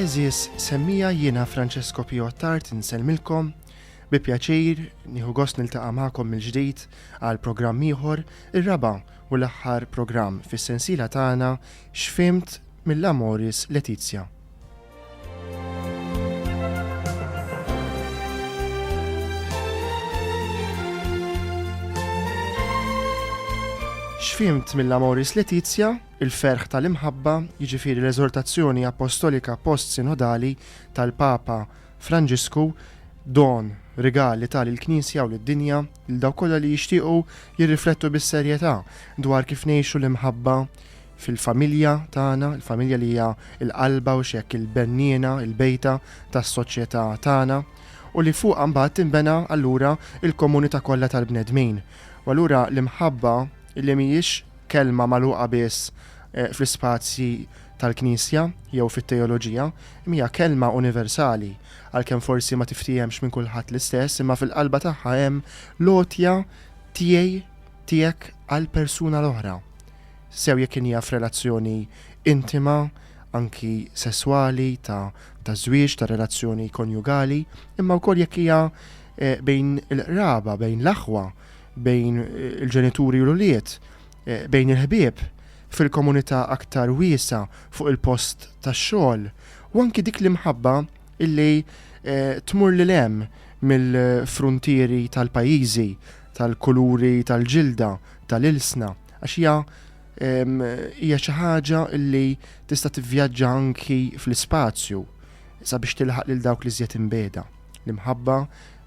Eżis semmija jiena Francesco Pio Tart insellmilkom bi pjaċir nieħu gost niltaqa' magħkom mill-ġdid għal programm ieħor ir-raba' u l-aħħar programm fis-sensiela tagħna X'fhimt mill-Amoris Laetitia? X'fhimt mill-Amoris Laetitia, il-ferħ tal-imħabba, jiġifieri l-eżortazzjoni appostolika post-sinodali tal-Papa Franġisku, don, rigal li ta lill-Knisja u lid-dinja lil dawk kollha li jixtiequ jirriflettu bis-serjetà dwar kif ngħixu l-imħabba fil-familja tagħna, il-familja li hija l-qalba u x'hekk il-benniena, il-bejta tas-soċjetà tagħna, u li fuqha mbagħad tinbena allura l-komunità kollha tal-bnedmin. U allura l-imħabba li mhijiex kelma magħluqa biss eh, fl-ispazji tal-Knisja jew fit-teoloġija, hija kelma universali, għalkemm forsi ma tiftiehemx minn kulħadd l-istess, imma fil-qalba tagħha hemm lotja tiegħi tiegħek għal persuna l-oħra. sew jekk inhi f' relazzjoni intima, anki sesswali, ta' ta' żwieġ, ta' relazzjoni konjugali, imma wkoll jekk hija bejn il-qraba, bejn l-aħwa, bejn il-ġenituri u l-ulied, bejn il-ħbieb, fil-komunità aktar wiesgħa, fuq il-post tax-xogħol, u anki dik l-imħabba illi tmur lil hemm mill-fruntieri tal-pajjiżi, tal-kuluri tal-ġilda, tal-ilsna. Għax hija hija xi ħaġa li tista' tivvjaġġa anki fl-ispazju sabiex tilħaq lil dawk li żjed imbeda. L-imħabba,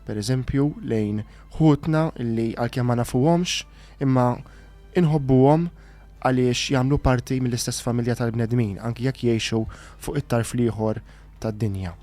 per eżempju, lejn ħutna li għalkemm ma nafuhomx, imma inħobbuhom għaliex jagħmlu parti mill-istess familja tal-bnedmin, anki jekk jgħixu fuq it-tarf l-ieħor tad-dinja.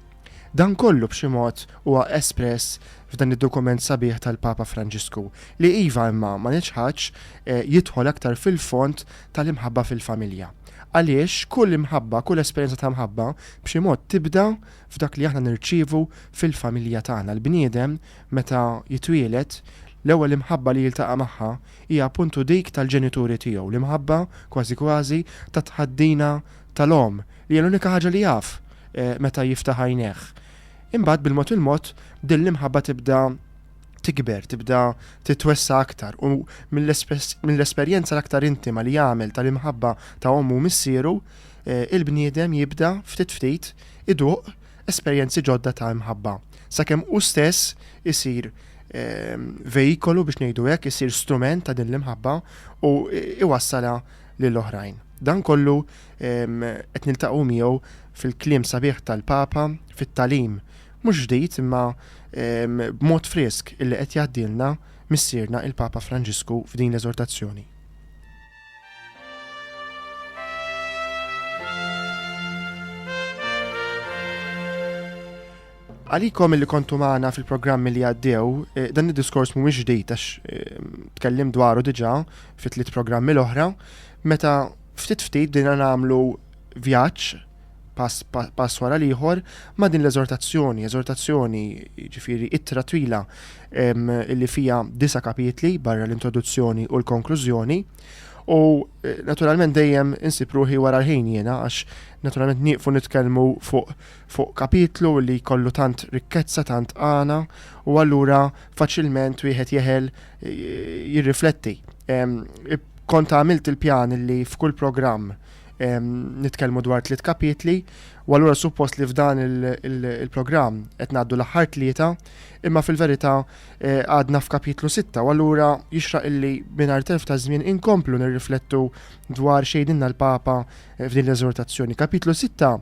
Dan kollu b'xi mod huwa espress f'dan id-dokument sabiħ tal-Papa Franġisku, li iva imma ma neċħadx jidħol aktar fil-fond tal-imħabba fil-familja. Għaliex kull imħabba, kull esperjenza ta' mħabba b'xi mod tibda f'dak li aħna nirċievu fil-familja tagħna. L-bniedem meta jitwieled, l-ewwel imħabba li jiltaqa' magħha hija appuntu dik tal-ġenituri tiegħu, l-imħabba kważi kważi tat-tħaddina tal-omm, li hija l-unika ħaġa li jaf meta jiftaħ għajnejh. Imbagħad bil-mod il-mod din l-imħabba tibda tikber, tibda titwessa aktar u mill-esperjenza l-aktar intima li jagħmel tal-imħabba ta' ommu u missieru, il-bniedem jibda ftit ftit iduq esperjenzi ġodda ta' imħabba. Sakemm hu stess isir veikolu biex ngħidu hekk, isir strument ta' din l-imħabba u iwassalha lil oħrajn. Dan kollu qed niltaqgħu miegħu fil-kliem sabiħ tal-Papa, fit-tagħlim mhux ġdid imma b'mod frisk illi qed jgħaddilna Missierna il-Papa Franġisku f'din l-eżortazzjoni. Għalikom illi kontu magħna fil-programmi li għaddew, eh, dan id-diskors mhuwiex ġdid għax eh, tkellim dwaru diġà fit tliet programmi l-oħra, meta ftit ftit bdejna nagħmlu vjaġġ pass, pass wara l-ieħor ma' din l-eżortazzjoni, eżortazzjoni ġifiri ittra twila illi fija disa kapitli barra l-introduzzjoni u l-konklużjoni. U eh, naturalment dejjem insib ruħi wara l-ħin jiena għax naturalment nieqfu nitkellmu fuq fuq kapitlu li jkollu tant rikkezza, tant għana, u allura faċilment wieħed jeħel jirrifletti. Kont għamilt il-pjan li f'kull programm nitkellmu dwar tliet kapitli, u allura suppost li f'dan il-programm qed ngħaddu l-aħħar tlieta, imma fil-verità e, għadna f'kapitlu sitta, u allura jixraq illi mingħajr telf ta' żmien inkomplu nirriflettu dwar xejdinna l-Papa e, f'din l-eżortazzjoni. Kapitlu sitta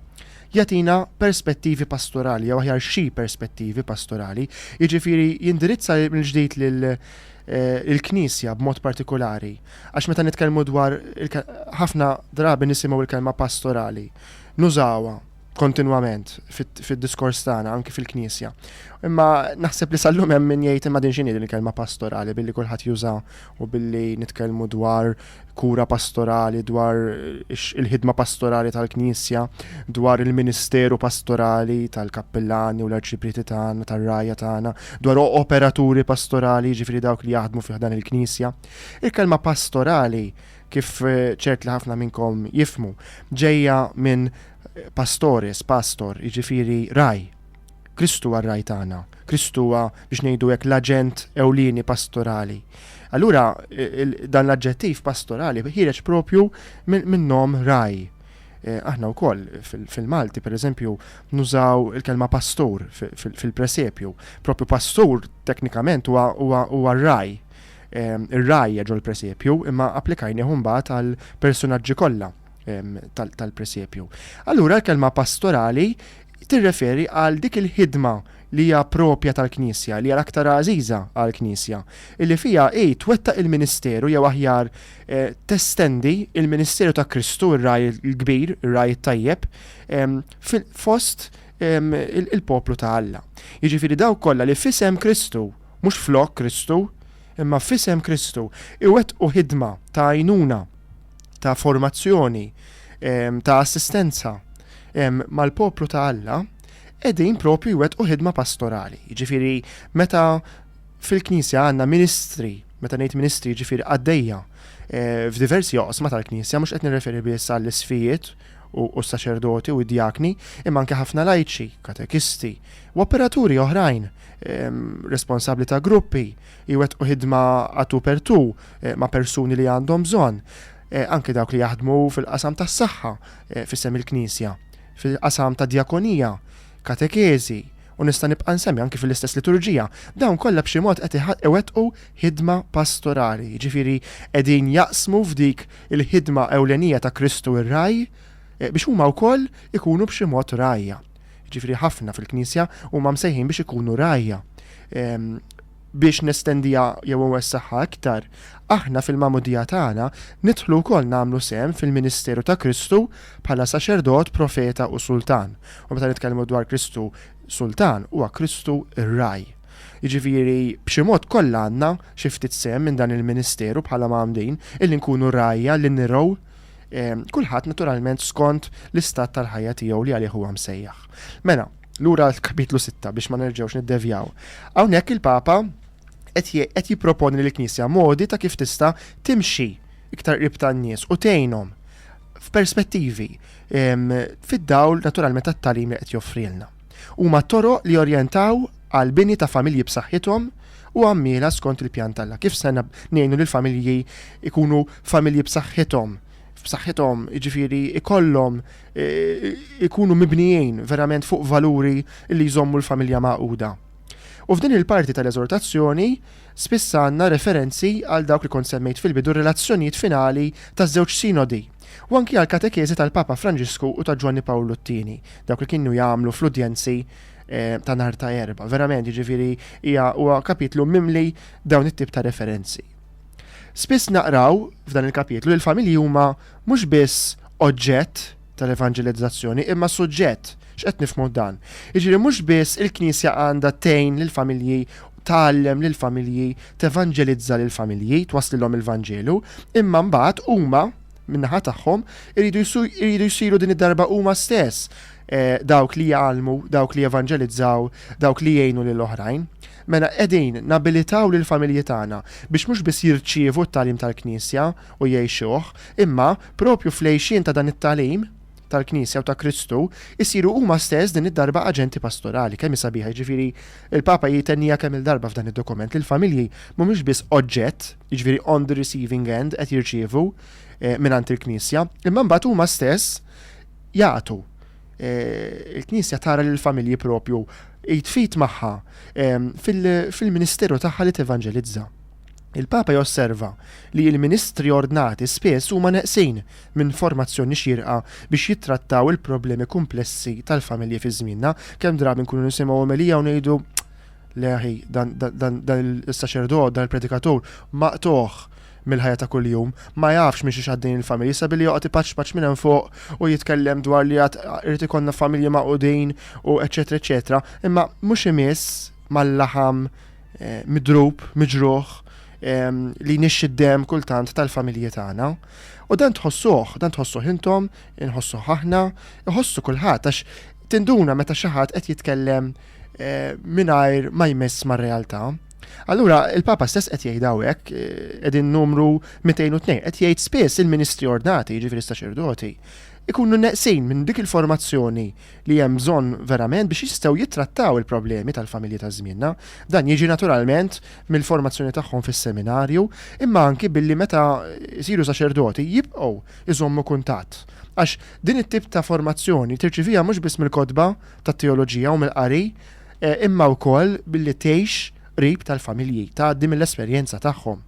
jagħtina perspettivi pastorali, jew aħjar xi perspettivi pastorali, jiġifieri jindirizza mill-ġdid lil eh, il-Knisja b'mod partikolari. Għax meta nitkellmu dwar ħafna drabi nisimgħu il-kelma pastorali, nużawha kontinwament fid-diskors tagħna anki fil-Knisja. Imma naħseb li sallum hemm min jgħid imma din x'inhi din il-kelma pastorali billi kulħadd juża u billi nitkellmu dwar kura pastorali, dwar il-ħidma pastorali tal-Knisja, dwar il-ministeru pastorali tal-kappillani u l-arċiprieti tagħna, tar-rajja tagħna, dwar operaturi pastorali, ġifieri dawk li jaħdmu fih dan il-Knisja. Il-kelma pastorali kif eh, ċert li ħafna minnkom jifmu, ġejja minn pastores, pastor, jiġifieri raj. Kristu huwa r-Ragħaj tagħna, Kristu huwa biex ngħidu hekk l-aġent ewlieni pastorali. Allura dan l-aġġettiv pastorali ħireġ propju minnhom raj. E, aħna wkoll fil-Malti, per eżempju, nużaw il-kelma pastur fil-presepju. Propju pastur teknikament huwa raj. E, Ir-raj ġol presepju imma applikajni mbagħad għal personaġġi kollha tal-presepju. Allura l-kelma pastorali tirreferi għal dik il-ħidma li hija proprja tal-Knisja, li hija l-aktar għażiża għall-Knisja, illi fiha hi twettaq il-ministeru jew aħjar testendi l-ministeru ta' Kristu, ir-ragħaj il-kbir, ir-ragħaj it-tajjeb, fost il-poplu ta' Alla. Jiġifieri dawk kollha li f'isem Kristu, mhux flok Kristu, imma f'isem Kristu, iwettqu ħidma ta' għajnuna ta' formazzjoni, ta' assistenza mal-poplu ta' Alla, edin propju jwet u ħidma pastorali. Ġifiri, meta fil-Knisja għanna ministri, meta ngħid ministri ġifiri għaddejja, eh, f'diversi joqsma tal-Knisja, mhux qed nirreferi biss għall-isfijiet u s-saċerdoti u d-djakni, imma anke ħafna lajċi, katekisti, u operaturi oħrajn, responsabli ta' gruppi, jwettqu ħidma a tu per tu ma' persuni li għandhom bżonn, anke dawk li jaħdmu fil-qasam tas-saħħa f'isem il-Knisja, fil-qasam tad-djakonija, katekeżi, u nista' nibqa' nsemmi anke fil-istess liturġija, dawn kollha b'xi mod qed iwettqu ħidma pastorali, jiġifieri qegħdin jaqsmu f'dik il-ħidma ewlenija ta' Kristu r-Ragħaj biex huma wkoll ikunu b'xi mod rgħajja. jiġifieri ħafna fil-Knisja, huma msejħin biex ikunu rgħajja. Biex nestendiha jew inwessagħha iktar, aħna fil-magħmudija tagħna nidħlu wkoll nagħmlu sehem fil-ministeru ta' Kristu bħala saċerdot, profeta u sultan. U meta nitkellmu dwar Kristu sultan, huwa Kristu r-ragħaj. Jiġifieri b'xi mod kollha għandna xi ftit sehem minn dan il-ministeru bħala magħmudin, illi nkunu rgħajja, li nirgħu, Kulħadd naturalment skont l-istat tal-ħajja tiegħu li għalih huwa msejjaħ. Mela, lura l-kapitlu 6 biex ma nerġgħux niddevjaw. Hawnhekk il-Papa qed jipproponi lill knisja modi ta' kif tista' timxi iktar qrib tan-nies u tgħinhom f'perspettivi fid-dawl naturalment tat-talim li qed joffrilna. Huma toroq li jorjentaw għall-bini ta' familji b'saħħithom u għammiela skont il-pjan t'Alla. Kif se ngħinu lill-familji jkunu familji b'saħħithom? B'saħħithom, jiġifieri jkollhom ikunu mibnijin verament fuq valuri li jżommu l-familja magħquda. U f'din il-parti tal-eżortazzjoni spiss għandna referenzi għal dawk li kont semmejt fil-bidu r-relazzjonijiet finali taż-żewġ sinodi. u anki għall-katekeżi tal-Papa Franġisku u ta' Ġwanni Pawlu t-Tieni, dawk li kienu jagħmlu fl-udjenzi ta' nhar ta' Erbgħa. Verament, jiġifieri hija huwa kapitlu mimli dawn it-tip ta' referenzi. Spiss naqraw f'dan il-kapitlu li l-familji huma mhux biss oġġett tal-evanġelizzazzjoni imma suġġett. X'qed nifhmu dan? Jiġifieri mhux biss il-Knisja għandha tgħin lill-familji, tgħallem lill-familji, tevanġelizza lill-familji, twasslilhom il-Vanġelu, imma mbagħad huma min-naħa tagħhom iridu jsiru din id-darba huma stess eh, dawk li jgħallmu, dawk li jevanġelizzaw, dawk li jgħinu lil oħrajn. Mela qegħdin nabilitaw lil familji tagħna biex mhux biss jirċievu t-talim tal-Knisja u jgħixuh, imma propju fl-għejxien ta' dan it-talim tal-Knisja u ta' Kristu, isiru huma stess din id-darba aġenti pastorali. Kemm hi sabiħa, jiġifieri il-Papa jitennija kemm il-darba f'dan id-dokument li l-familji mhumiex biss oġġett, jiġifieri on the receiving end qed jirċievu eh, mingħand il-Knisja, imma mbagħad huma stess jagħtu. Eh, Il-Knisja tara lil familji propju jitfit magħha eh, fil-ministeru tagħha li tevanġelizza. Il-Papa josserva li l-ministri ordnati spiss huma neqsin minn formazzjoni xierqa biex jittrattaw il-problemi kumplessi tal-familji fi żmienna. Kemm drabi nkunu nisimgħu omelija u ngħidu le aħi dan, dan, dan il-saċerdot, dan il-predikatur, maqtugħ mill-ħajja ta' kuljum, ma jafx minn xiex għaddejjin il-familji sabilli joqgħod ipaċpaċ minn hemm fuq u jitkellem dwar li għad irid ikollna familji magħqudin u eċetera eċetera, imma mhux imiss mal-laħam eh, midrub, miġruħ, li nixxi d-dem kultant tal-familji tagħna. U dan tħossuh, dan tħossuh intom, inħossuh aħna, iħossu kulħadd għax tinduna meta xi ħadd qed jitkellem eh, mingħajr ma jmiss mar-realtà. Allura, il-Papa stess qed jgħid hawnhekk qegħdin eh, numru 202 qed jgħid spiss il-ministri ordnati, jiġifieri saċerdoti, ikunu neqsin minn dik il-formazzjoni li hemm bżonn verament biex jistgħu jittrattaw il-problemi tal-familji ta' żmienna. Dan jiġi naturalment mill-formazzjoni tagħhom fis-seminarju, imma anki billi meta jsiru saċerdoti jibqgħu iżommu kuntatt. Għax din it-tip ta' formazzjoni tirċivija mhux biss mill-kotba tat-teoloġija u mill-qari, eh, imma wkoll billi tgħix qrib tal-familji, tgħaddi mill-esperjenza tagħhom.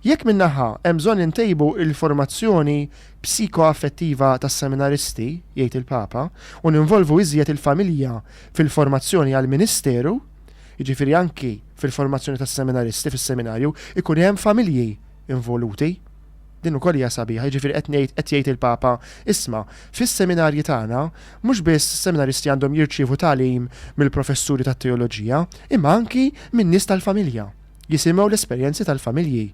Jekk minnaħa hemm bżonn intejbu il-formazzjoni psikoaffettiva tas-seminaristi, jgħid il-Papa, u ninvolvu iżjed il-familja fil-formazzjoni għall-ministeru, jiġifieri anki fil-formazzjoni tas-seminaristi fis-seminarju, ikun hemm familji involuti. Din ukoll hija sabiħa, jiġifieri qed ngħid qed jgħid il-Papa, isma', fis-seminarji tagħna mhux biss is-seminaristi għandhom jirċievu tagħlim mill-professuri tat-teoloġija, imma anki min-nies tal-familja, jisimgħu l-esperjenzi tal-familji.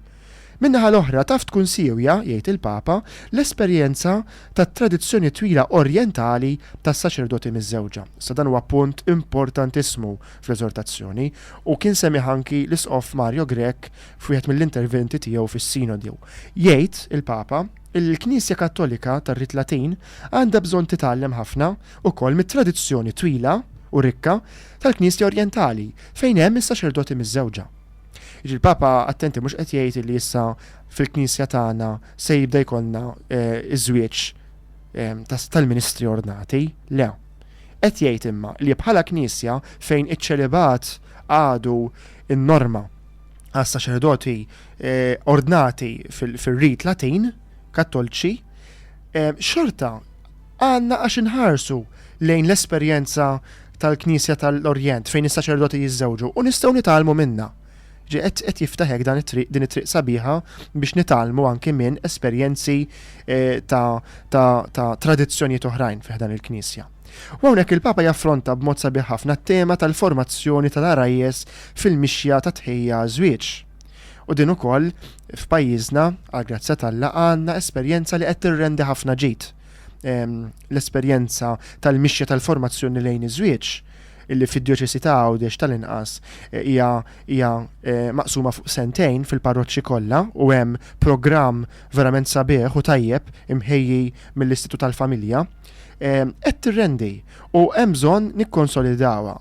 Min-naħa l-oħra, taf tkun siewja, jgħid il-Papa, l-esperjenza tat-tradizzjoni twila orjentali tas-saċerdoti miżżewġa. Issa dan huwa punt importantissimu fl-eżortazzjoni, u kien semmieh anki l-Isqof Mario Grech f'wieħed mill-interventi tiegħu fis-Sinodu. Jgħid il-Papa illi l-Knisja Kattolika tar-Rit Latin għandha bżonn titgħallem ħafna ukoll mit-tradizzjoni twila u rikka tal-Knisja Orjentali fejn hemm is-saċerdoti miżżewġa. Jiġi l-Papa attenti mhux qed jgħid li issa fil-Knisja tagħna se jibda jkollna eh, iż-żwieġ eh, tal-ministri ordnati, le. Qed jgħid imma li bħala Knisja fejn iċ-ċelibat għadu n-norma għas saċerdoti eh, ordnati fil-rit Latin, kattolċi, xorta Għandna għax inħarsu lejn l-esperjenza tal-Knisja tal-Orjent fejn is-saċerdoti jiżżewġu u nistgħu nitgħallmu minnha. Ġie qed qed jiftaħ hekk dan it-triq din it-triq sabiħa biex nitgħallmu anki minn esperjenzi eh, ta' ta' ta' tradizzjonijiet oħrajn fi ħdan il-Knisja. U hawnhekk il-Papa jaffronta b'mod sabiħ ħafna t-tema tal-formazzjoni tal-arajjes fil-mixja ta' tħejja żwieġ. U din ukoll f'pajjiżna, għal grazzja t'Alla, għandna esperjenza li qed tirrendi ħafna ġid. Ehm, l-esperjenza tal-mixja tal-formazzjoni lejn iż-żwieġ illi fid-djoċesi ta' Għawdex tal-inqas eh, hija hija eh, maqsuma fuq sentejn fil-parroċċi kollha u hemm programm verament sabiħ u tajjeb imħejji mill-Istitut tal-Familja eh, qed tirrendi u hemm bżonn nikkonsolidawha.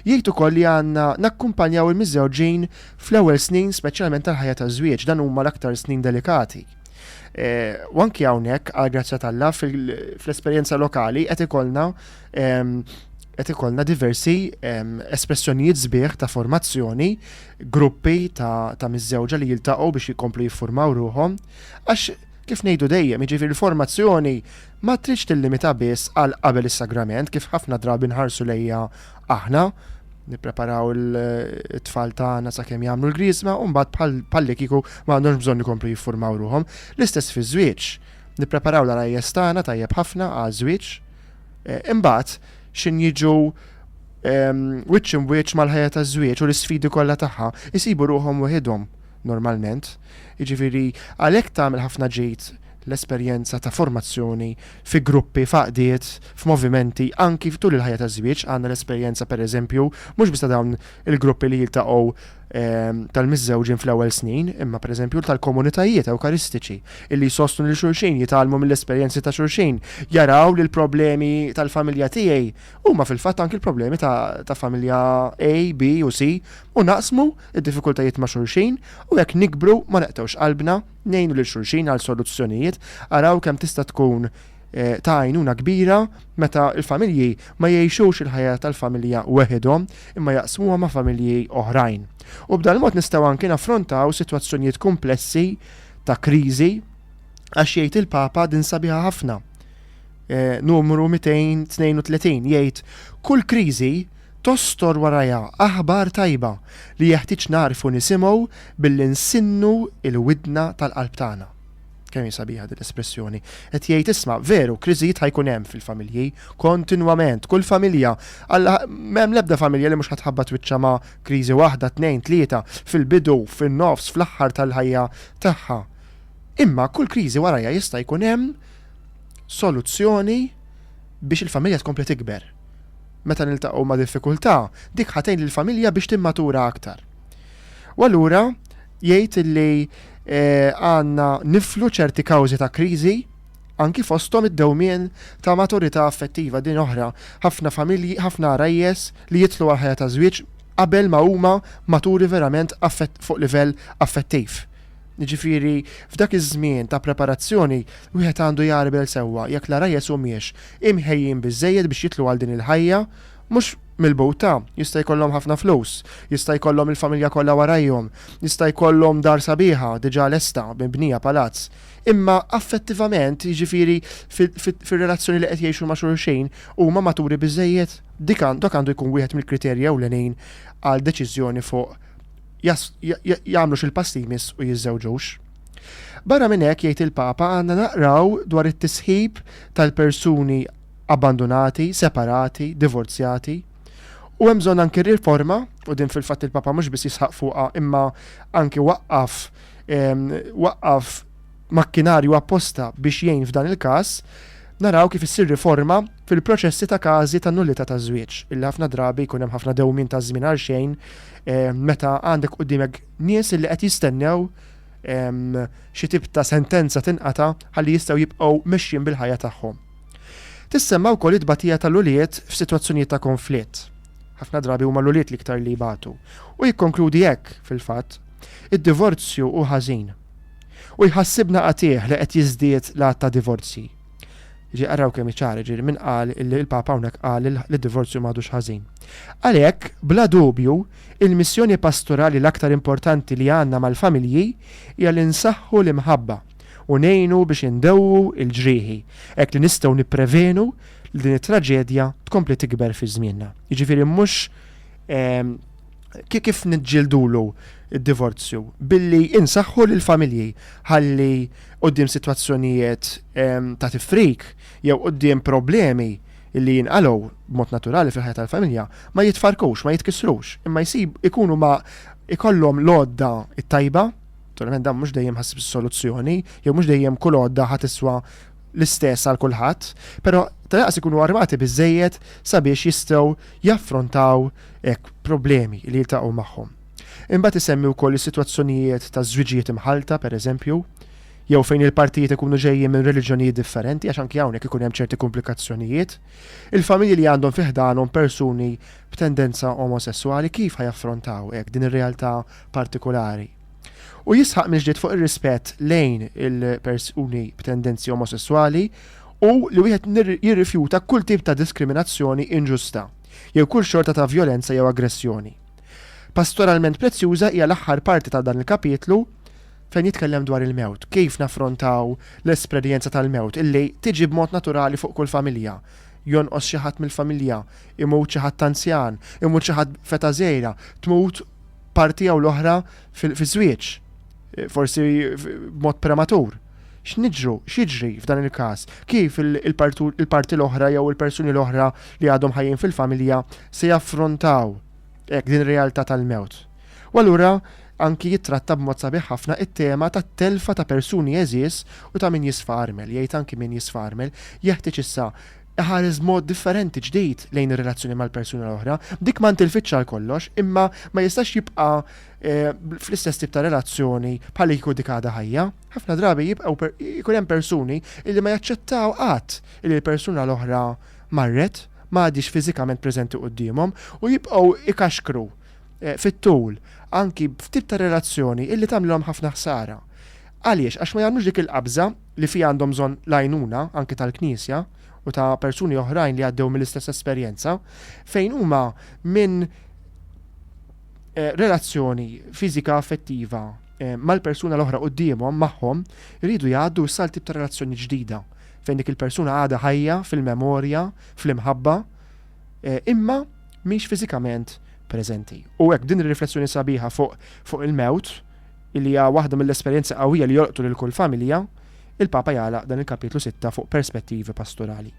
Jgħid ukoll li għandna nakkumpanjaw il-miżżewġin fl-ewwel snin speċjalment tal-ħajja taż-żwieġ, dan huma l-aktar snin delikati. Eh, u anki hawnhekk għal grazzja tal-la fl-esperjenza lokali qed ikollna ehm, qed ikollna diversi ehm, espressjonijiet sbieħ ta' formazzjoni, gruppi ta', ta miżżewġa li jiltaqgħu biex jikomplu jiffurmaw ruhom, għax kif ngħidu dejjem, jiġifieri l-formazzjoni ma tridx tillimita biss għal qabel is-sagrament kif ħafna drabi nħarsu lejha aħna, nippreparaw it-tfal tagħna sakemm jagħmlu l-Griżma u mbagħad bħallikieku ma għandhomx bżonn ikomplu jiffurmaw ruħhom. L-istess fiż-żwieġ. Nippreparaw l-għarajjes tagħna tajjeb ħafna għaż-żwieġ, eh, imbagħad x'in jiġu ehm, wiċċ imwiċċ mal-ħajja taż-żwieġ u l-isfidi kollha tagħha, isibu ruħhom weħidhom normalment. Jiġifieri għalhekk tagħmel ħafna ġid l-esperjenza ta' formazzjoni fi gruppi, f'għaqdiet, f'movimenti, anki tul il-ħajja taż-żwieġ, għandna l-esperjenza, pereżempju, mhux biss ta' dawn il-gruppi li jiltaqgħu tal-miżżewġin fl-ewwel snin, imma pereżempju tal-komunitajiet Ewkaristiċi, illi jsostnu lil xulxin, jitgħallmu mill-esperjenzi ta' xulxin, jaraw li l-problemi tal-familja tiegħi huma fil-fatt anki l-problemi ta' familja A, B u C, u naqsmu d-diffikultajiet ma' xulxin, u hekk nikbru ma neqtgħux qalbna. Ngħinu lil xulxin għal soluzzjonijiet, araw kemm tista' tkun ta' għajnuna kbira meta l-familji ma jgħixux il-ħajja tal-familja weħidhom imma jaqsmuha ma' familji oħrajn. U b'dal-mod nistgħu anki naffrontaw sitwazzjonijiet kumplessi ta' kriżi għax jgħid il-Papa din sabiħa ħafna. Numru 232 jgħid kull kriżi tostor warajha aħbar tajba li jeħtieġ nagħrfu nisimgħu billi nsinnu l-widna tal-qalb tagħna. Kemm hi sabiħa din l-espressjoni! Qed jgħid, isma', veru, kriżijiet ħa jkun hemm fil-familji, kontinwament, kull familja, Alla, m'hemm l-ebda familja li mhux ħa tħabbat wiċċha ma' kriżi waħda, tnejn, tlieta, fil-bidu, fin-nofs, fl-aħħar tal-ħajja tagħha. Imma kull kriżi warajha jista' jkun hemm soluzzjoni biex il-familja tkompli tikber. meta niltaqgħu ma' diffikultà, dik ħa tgħin lill-familja biex timmatura aktar. U allura jgħid li eh, għandna niflu ċerti kawżi ta' kriżi anki fosthom id-dewmien ta' maturità affettiva din oħra. Ħafna familji, ħafna rajjes li jitlu għal ħajja ta' żwieġ qabel ma huma maturi verament fuq livell affettiv. Jiġifieri, f'dak iż-żmien ta' preparazzjoni, wieħed għandu jgħarbel sewwa jekk l-għarajjes humiex imħejjin biżżejjed biex jidħlu għal din il-ħajja, mhux milbuta, jista' jkollhom ħafna flus, jista' jkollhom il-familja kollha warajhom, jista' jkollhom dar sabiħa diġà lesta, mibnija palazz, imma affettivament, jiġifieri fir-relazzjoni li qed jgħixu ma' xulxin, huma maturi biżżejjed? Dik dak għandu jkun wieħed mill-kriterji ewlenin għal deċiżjoni fuq jagħmlux il-pass li jmiss u jiżżewġux. Barra minn hekk, jgħid il-Papa, għandna naqraw dwar it-tisħib tal-persuni abbandunati, separati, divorzjati, U hemm bżonn anki riforma, u din fil-fatt il-Papa mhux biss jisħaq fuqha imma anki waqqaf waqqaf makkinarju apposta biex jgħin f'dan il-każ, naraw kif issir riforma fil-proċessi ta' każi ta' nullità ta' żwieġ, illi ħafna drabi jkun hemm ħafna dewmin ta' żmien għal xejn Meta għandek qudiemek nies li qed jistennew xi tip ta' sentenza tinqata ħalli jistgħu jibqgħu mexjin bil-ħajja tagħhom. Tissemma wkoll it-tbatija tal-ulied f'sitwazzjonijiet ta' konflitt. Ħafna drabi huma l-ulied l-iktar li jbatu. U jikkonkludi hekk, fil-fatt, id-divorzju hu ħażin. U jħassibna qatiegħ li qed jiżdied l-għadd ta' divorzji. Ġi għarraw kemm iċar, ġiri minn qal illi il-Papa hawnhekk qal li divorzju m'għadux ħażin. Għalhekk, bla dubju, il-missjoni pastorali l-aktar importanti li għandna mal-familji hija li nsaħħu l-imħabba u ngħinu biex indewwu l-ġrieħi, hekk li nistgħu nipprevenu li din it-traġedja tkompli tikber fi żmienna. Jiġifieri mhux ehm, kif niġġildulu id-divorzju billi insaħħu lill-familji ħalli quddiem sitwazzjonijiet ta' tifrik jew quddiem problemi li jinqalgħu b'mod naturali fil-ħajja tal-familja ma jitfarrkux, ma jitkissrux, imma jsib ikunu ma jkollhom l-għodda t-tajba, naturalment dan mhux dejjem ħassib soluzzjoni, jew mhux dejjem kull għodda ħa tiswa l-istess għal kulħadd, però tal-inqas ikunu armati biżżejjed sabiex jistgħu jaffrontaw hekk problemi li jiltaqgħu magħhom. Imbagħad isemmi wkoll is-sitwazzjonijiet ta' żwiġijiet imħallta, pereżempju, jew fejn il-partijiet ikunu ġejjin minn reliġjonijiet differenti għax anki hawnhekk ikun hemm ċerti kumplikazzjonijiet. Il-familji li għandhom fi ħdanhom persuni b'tendenza omosesswali kif ħa jaffrontaw hekk din ir-realtà partikulari? U jisħaq mill-ġdid fuq ir-rispett lejn il-persuni b'tendenzi omosesswali u li wieħed jirrifjuta kull tip ta' diskriminazzjoni inġusta jew kull xorta ta' vjolenza jew aggressjoni. Pastoralment prezzjuża hija l-aħħar parti ta' dan il-kapitlu fejn jitkellem dwar il-mewt, kif naffrontaw l-esperjenza tal-mewt illi tiġi b'mod naturali fuq kull familja. Jonqos xi ħadd mill-familja, imut xi ħadd anzjan, imut xi ħadd f'età żgħira, tmut parti jew l-oħra fiż-żwieġ, forsi b'mod prematur. X'niġru, x'jiġri f'dan il-każ? Kif il-parti l-oħra jew il-persuni l-oħra li għadhom ħajjin fil-familja se jaffrontaw hekk din ir-realtà tal-mewt? U allura anki jittratta b'mod sabiħ ħafna t-tema tat-telfa ta' persuni għeżież u ta' min jisfa armel, jgħid anki min jisfa armel jeħtieġ issa iħares b'mod differenti ġdid lejn ir-relazzjoni mal-persuna l-oħra, dik ma ntilfitx għal kollox, imma ma jistax jibqa' Eh, fl-istess tip ta' relazzjoni bħal jkun dik għadha ħajja, ħafna drabi jibqgħu jkun hemm persuni illi ma jaċċettaw qatt illi l-persuna l-oħra marret ma għadix fiżikament preżenti qudiemhom u jibqgħu ikaxkru eh, fit-tul anki f'tip ta' relazzjoni illi tagħmlilhom ħafna ħsara. Għaliex għax ma jagħmlux dik il-qabża li fi għandhom bżonn lajnuna anki tal-Knisja u ta' persuni oħrajn li għaddew mill-istess esperjenza fejn huma minn eh, relazzjoni fiżika affettiva eh, mal-persuna l-oħra qudiemhom magħhom iridu jgħaddu issa tip ta' relazzjoni ġdida fejn dik il-persuna għadha ħajja fil-memorja, fl-imħabba, eh, imma mhix fiżikament preżenti. U hekk din ir-riflessjoni sabiħa fuq fuq il-mewt li hija waħda mill-esperjenza qawwija li jolqtu lil kull familja, il-Papa jala dan il-kapitlu 6 fuq perspettivi pastorali.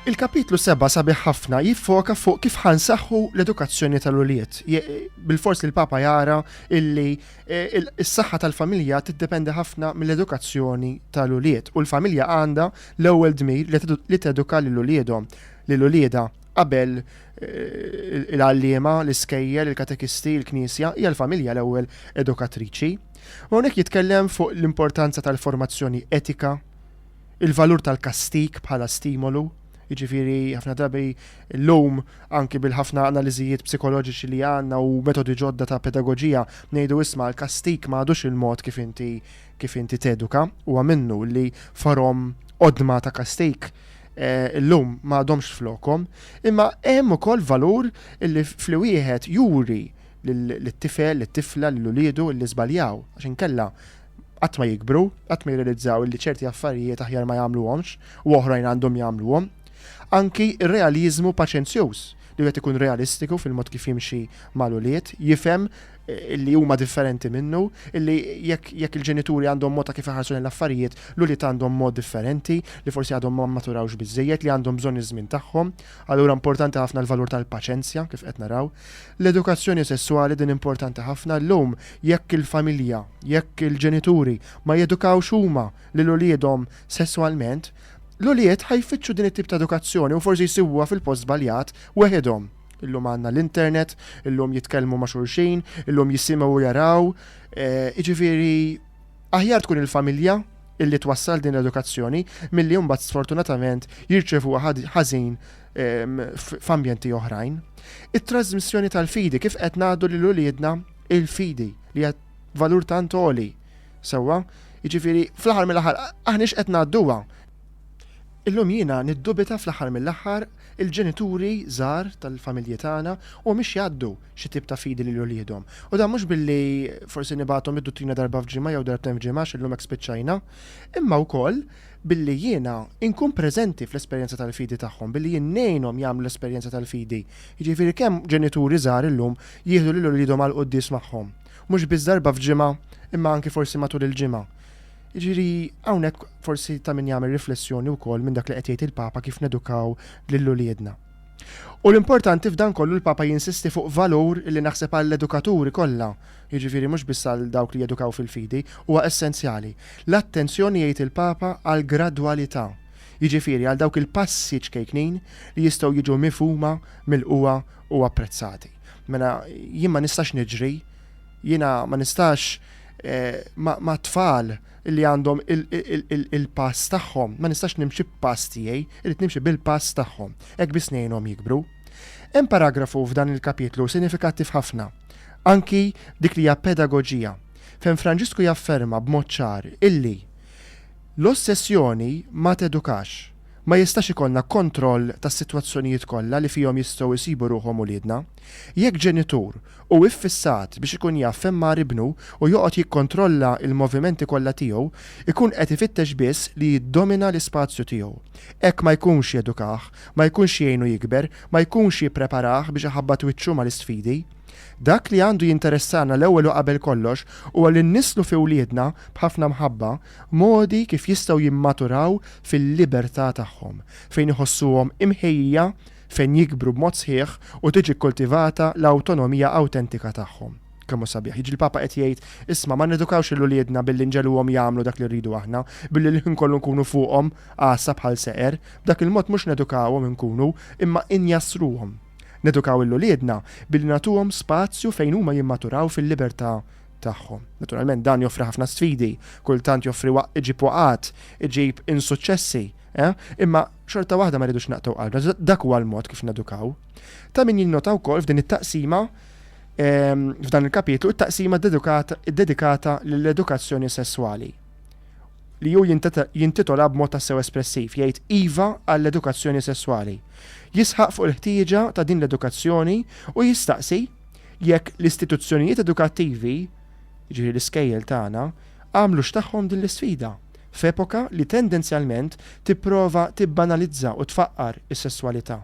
Il-kapitlu 7 sabiħ ħafna jiffoka fuq kif ħansaħħu l-edukazzjoni tal-uliet. Bil-fors li l-Papa jara illi e, s-saħħa tal-familja tiddependi ħafna mill-edukazzjoni tal-uliet u l-familja għandha L-ewwel dmir li teduka lil uliedhom, lil uliedha, qabel il-għalliema, l-iskejjel, il-katekisti, il-knisja, hija l-familja l-ewwel edukatriċi. U hawnhekk jitkellem fuq l-importanza tal-formazzjoni etika, il-valur tal-kastig bħala stimolu, jiġifieri ħafna drabi llum anki bil-ħafna analiżijiet psikoloġiċi li għandna u metodi ġodda ta' pedagoġija ngħidu isma' l-kastig ma għadux il-mod kif inti kif inti teduka, huwa minnu li forom qodma ta' kastejk eh, illum ma għadhomx flokom, imma hemm ukoll valur li fli wieħed juri l-tifel, l-tifla, l-ulidu li żbaljaw, għax inkella qatt ma jikbru, qatt ma jirrealizzaw li ċerti affarijiet aħjar ma jagħmluhomx u oħrajn għandhom jagħmluhom. Anki r-realizmu paċenzjuż li wieħed ikun realistiku fil-mod kif jimxi mal-ulied, jifhem illi huma differenti minnu, illi jekk jekk il-ġenituri għandhom mod ta' kif iħarsu lejn l-affarijiet, l-ulied għandhom mod differenti, li forsi għadhom ma maturawx biżejjed, li għandhom bżonn iż-żmien tagħhom. Allura importanti ħafna l-valur tal-paċenzja kif qed naraw. L-edukazzjoni sesswali din importanti ħafna llum jekk il-familja, jekk il-ġenituri ma jedukawx huma lil uliedhom sesswalment, l-ulied ħajfittxu din it-tip ta' edukazzjoni u forsi jsibuha fil-post żbaljat weħidhom. Illum għandna l-internet, illum jitkellmu ma' xulxin, illum jisimgħu u jaraw. Jiġifieri aħjar tkun il-familja illi twassal din l-edukazzjoni milli mbagħad sfortunatament jirċevuha ħażin ehm, f'ambjenti oħrajn. It-trasmissjoni tal-fidi kif qed ngħaddu lil uliedna il-fidi li qed valur tant oli. Sewwa, jiġifieri fl-aħħar mill-aħħar aħniex qed ngħadduha Illum jiena niddubita fl-aħħar mill-aħħar il-ġenituri żgħar tal-familji tagħna huma mhix jgħaddu xi tip ta' fidi lil uliedhom. U dan mhux billi forsi nibgħathom id-duttrina darba f'ġimgħa jew darbtejn f'ġimgħa għax illum hekk spiċċajna, imma wkoll billi jiena inkun preżenti fl-esperjenza tal-fidi tagħhom, billi jien ngħinhom jagħmlu l-esperjenza tal-fidi. Jiġifieri kemm ġenituri żgħar illum jieħdu lil uliedhom għall-quddies magħhom? Mhux biss darba f'ġimgħa imma anki forsi matul il-ġimgħa. Ġiri, għawnek forsi ta' min jagħmel riflessjoni u kol minn dak li qed jgħid il-Papa kif nedukaw lill-uliedna. U l-importanti f'dan kollu l-Papa jinsisti fuq valur li naħseb għall-edukaturi kollha, jiġifieri mhux biss għal dawk li jedukaw fil-fidi, huwa essenzjali. L-attenzjoni jgħid il-Papa għall-gradwalità, jiġifieri għal dawk il-passi ċkejknin li jistgħu jiġu mifhuma, milqugħa u apprezzati. Mela jien ma nistax niġri, jiena ma nistax ma' tfal li għandhom il-pass tagħhom, ma nistax nimxi b'pass tiegħi, irid nimxi bil-pass tagħhom, hekk biss ngħinhom jikbru. Hemm paragrafu f'dan il-kapitlu sinifikattiv ħafna, anki dik li hija pedagoġija, fejn Franġisku jafferma b'mod ċar illi l-ossessjoni ma tedukax. Ma jistax ikollna kontroll tas-sitwazzjonijiet kollha li fihom jistgħu jsibu ruħhom uliedna. Jekk ġenitur Hu iffissat biex ikun jaf fejn mar ibnu u joqgħod jikkontrolla l-movimenti kollha tiegħu, ikun qed ifittex biss li jiddomina l-ispazju tiegħu. Hekk ma jkunx jedukah, ma jkunx jgħinu jikber, ma jkunx jippreparah biex iħabbat wiċċu mal-isfidi. Dak li għandu jinteressana l-ewwel u qabel kollox huwa li nnisslu fi wliedna, b'ħafna mħabba, modi kif jistgħu jimmaturaw fil-libertà tagħhom, fejn iħossuhom imħejjija fejn jikbru b'mod sħiħ u tiġi kkultivata l-awtonomija awtentika tagħhom. Kemm hu sabiħ! Jiġri l-Papa qed jgħid, Isma', ma nedukawx lil uliedna billi nġegħluhom jagħmlu dak li rridu aħna, billi l-ħin kollu nkunu fuqhom, għassa bħal seqer. B'dak il-mod mhux nedukawhom inkunu, imma injassruhom. Nedukaw lil uliedna billi nagħtuhom spazju fejn huma jimmaturaw fil-libertà tagħhom. Naturalment dan joffri ħafna sfidi, kultant joffri iġib waqgħat, iġib insuċċessi, Eh? Imma xorta waħda ma rridux naqtaw qalbna, dak huwa l-mod kif nedukaw. Ta' min jinnota wkoll f'din it-taqsima ehm, f'dan il-kapitlu it-taqsima dedikata lill-edukazzjoni sesswali li ju jintitola b'mod tassew espressiv jgħid iva għall-edukazzjoni sesswali. Jisħaq fuq il-ħtieġa ta' din l-edukazzjoni u jistaqsi jekk l-istituzzjonijiet edukattivi, ġifieri l-iskejjel tagħna, għamlu x'tagħhom din l-isfida f'epoka li tendenzjalment tipprova tibbanalizza u tfaqqar is-sesswalità,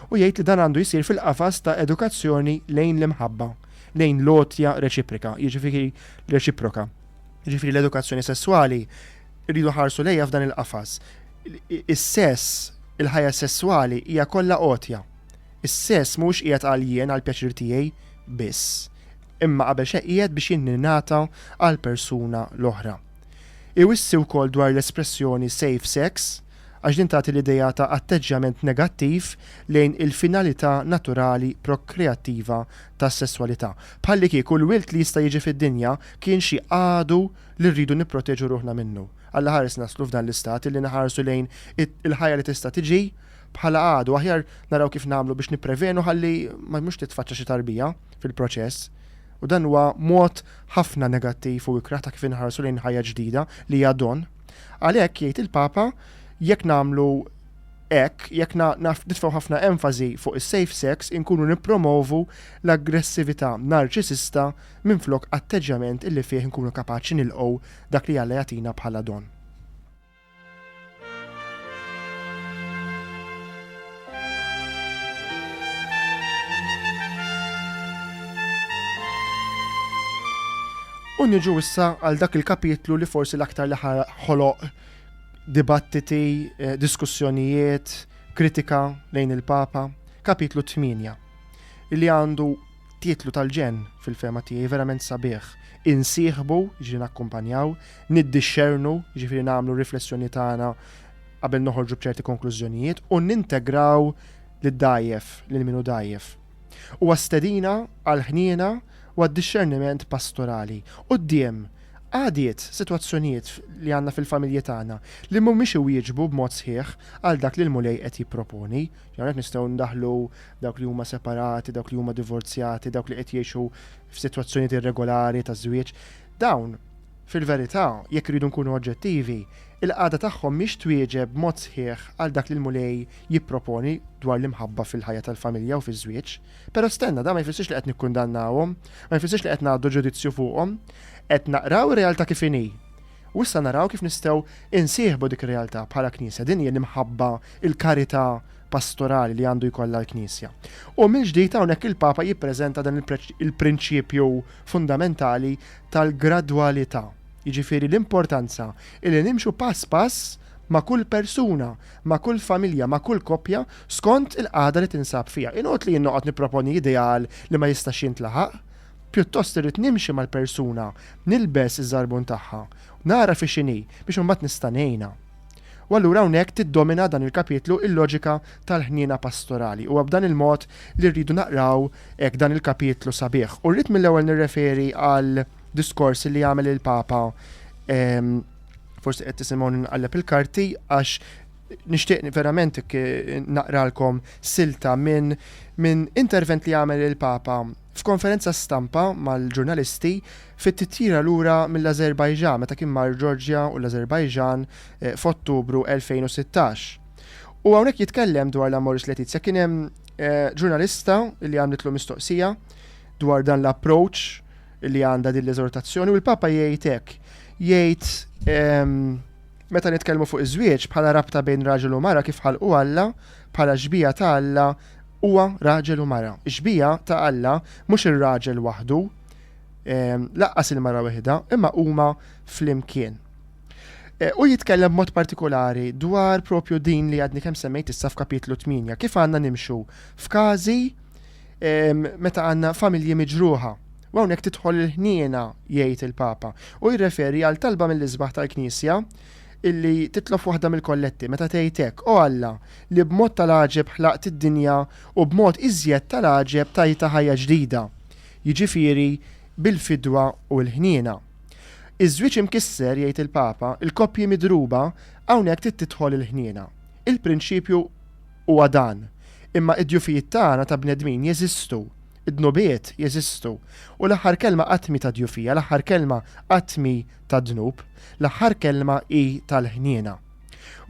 u jgħid li dan għandu jsir fil-qafas ta' edukazzjoni lejn l-imħabba, lejn l-għotja reċiprika, jiġifieri reċiproka. Jiġifieri l-edukazzjoni sesswali rridu nħarsu lejha f'dan il-qafas. Is-sess, il-ħajja sesswali hija kollha għotja. Is-sess mhuwiex qiegħed għal jien, għall-pjaċir tiegħi biss, imma qabel xejn qiegħed biex jingħata għall-persuna l-oħra. Iwissi wkoll dwar l-espressjoni safe sex għax din tagħti l-idea ta' atteġġjament negattiv lejn il-finalità naturali prokreattiva tas-sesswalità, bħallikieku l-wild li jista' jiġi fid-dinja kien xi għadu li rridu nipproteġu ruħna minnu. Allaħares naslu f'dan l-istat illi nħarsu lejn il-ħajja li tista' tiġi bħala għadu, aħjar naraw kif nagħmlu biex nipprevenu ħalli mhux titfaċċa xi tarbija fil-proċess. U dan huwa mod ħafna negattiv u ikrah ta' kif inħarsu lejn ħajja ġdida li hija don. Għalhekk, jgħid il-Papa, jekk nagħmlu hekk, jekk nitfgħu ħafna enfażi fuq is-safe sex, inkunu nippromovu l-aggressività narċisista minflok atteġġjament illi fih inkunu kapaċi nilqgħu dak li Alla jagħtina bħala don. U niġu issa għal dak il-kapitlu li forsi l-aktar li ħoloq dibattiti, eh, diskussjonijiet, kritika lejn il-Papa, kapitlu 8, li għandu Titlu tal-ġenn, fil-fehma tiegħi, verament sabiħ. Insieħbu, jiġifieri nakkumpanjaw, niddixxernu, jiġifieri nagħmlu r-riflessjoni tagħna qabel noħorġu b'ċerti konklużjonijiet, u nintegraw lid-dgħajjef, lil min hu dgħajjef. Huwa stedina għall-ħniena u għad-dixxerniment pastorali. Quddiem għadiet, sitwazzjonijiet li għandna fil-familji tagħna li mhumiex iwieġbu b'mod sħiħ għal dak li l-Mulej qed jipproponi, Hawnhekk nistgħu ndaħlu dawk li huma separati, dawk li huma divorzjati, dawk li qed jgħixu f'sitwazzjonijiet irregolari ta' żwieġ. Dawn, fil-verità, jekk iridu nkunu oġġettivi, il-qagħda tagħhom mhix twieġeb b'mod sħiħ għal dak li l-Mulej jipproponi dwar l-imħabba fil-ħajja tal-familja u fiż-żwieġ. Però stenna, dan ma jfissirx li qed nikkundannawhom, ma jfissirx li qed ngħaddu ġudizzju fuqhom. Qed naqraw ir-realtà kif inhi. U issa naraw kif nistgħu insieħbu dik ir-realtà bħala Knisja. Din hija l-imħabba, il-karità pastorali li għandu jkollha l-Knisja. U mill-ġdid hawnhekk il-Papa jippreżenta dan il-prinċipju fundamentali tal-gradwalità, jiġifieri l-importanza li nimxu pass pass ma' kull persuna, ma' kull familja, ma' kull koppja skont il-qagħda li tinsab fiha. Inqgħod li jien noqgħod nipproponi ideal li ma jistax jintlaħaq, Pjuttost irrid nimxi mal-persuna, nilbes iż-żarbun tagħha, u nara fi x'inhi biex imbagħad nista' ngħinha. U allura hawnhekk tiddomina dan il-kapitlu l-loġika tal-ħniena pastorali. Huwa b'dan il-mod li rridu naqraw hekk dan il-kapitlu sabiħ. U rrid mill-ewwel nirreferi għal diskors li għamel il-Papa forsi qed tisimgħu nqalleb il-karti għax nixtieq verament naqralkom silta minn min intervent li għamel il-Papa F'konferenza stampa mal-ġurnalisti fit-titjira lura mill-Ażerbajġan meta kien mar Georgia u l-Ażerbajġan f'Ottubru 2016. U hawnhekk jitkellem dwar l-Amoris Laetitia kien hemm ġurnalista li għamlitlu mistoqsija dwar dan l-approach li għandha din l-eżortazzjoni u l-Papa jgħid hekk jgħid meta nitkellmu fuq iż-żwieġ bħala rabta bejn raġel u mara kif ħalqu Alla bħala xbieha ta' Alla Huwa raġel u mara. Ix-xbieha ta' Alla mhux ir-raġel waħdu, ehm, laqqas il-mara weħidha, imma huma flimkien. E, u jitkellem b'mod partikolari dwar propju din li għadni kemm semmejt issa f'kapitlu 8, kif għandna nimxu f'każi ehm, meta għandna familji miġruħa. U hawnhekk tidħol il-ħniena, jgħid il-Papa, u jirreferi għal talba mill-isbaħ tal-Knisja illi titlob waħda mill-kolletti, meta tgħid hekk, O Alla, li b'mod tal-għaġeb ħlaqt id-dinja u b'mod iżjed tal-għaġeb tajtha ħajja ġdida, jiġifieri bil-fidwa u l-ħniena. Iż-żwieġ imkisser, jgħid il-Papa, il-koppji midruba, hawnhekk trid tidħol il-ħniena. Il-prinċipju huwa dan, imma id-djufijiet tagħna ta' bnedmin jeżistu. Id-dnubiet jeżistu. U l-aħħar kelma qatt mhi ta' djufija, l-aħħar kelma qatt mhi tad-dnub, l-aħħar kelma hi tal-ħniena.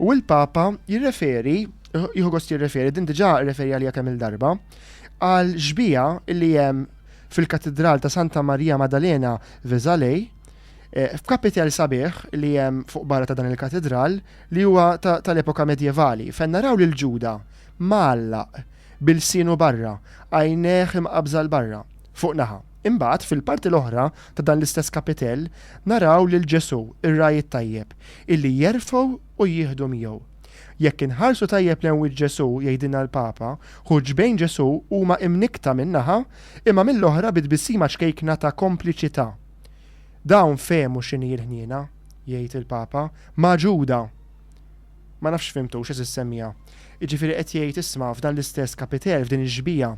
U l-Papa jirreferi, jieħu gost jirreferi, din diġà rreferi għalija kemm-il darba, għal xbija li hemm fil-Katidral ta' Santa Marija Madalena Vesalej, eh, f'kapitel sabiħ li hemm fuq barra ta' dan il-katidral li huwa tal-epoka medjevali, fejn naraw lil Ġuda mgħallaq b'ilsienu barra, għajnejh imqabbża 'l barra, fuq naħa. Imbagħad, fil-parti l-oħra ta' dan l-istess kapitell, naraw lil Ġesù, ir-Ragħaj it-Tajjeb, illi jerfgħu u jieħdu miegħu. Jekk inħarsu tajjeb lejn wiċċ Ġesù, jgħidilna l-Papa, hu ġbejn Ġesù huma imnikkta minn naħa, imma mill-oħra bi tbissima ċkejkna ta' kompliċità. Dawn fehmu x'inhi l-ħniena, jgħid il-Papa, magħġuda! Ma nafx fhimtux, għeżież semmiegħa. Jiġifieri qed jgħid, isma', f'dan l-istess kapitel, f'din ix-xbieha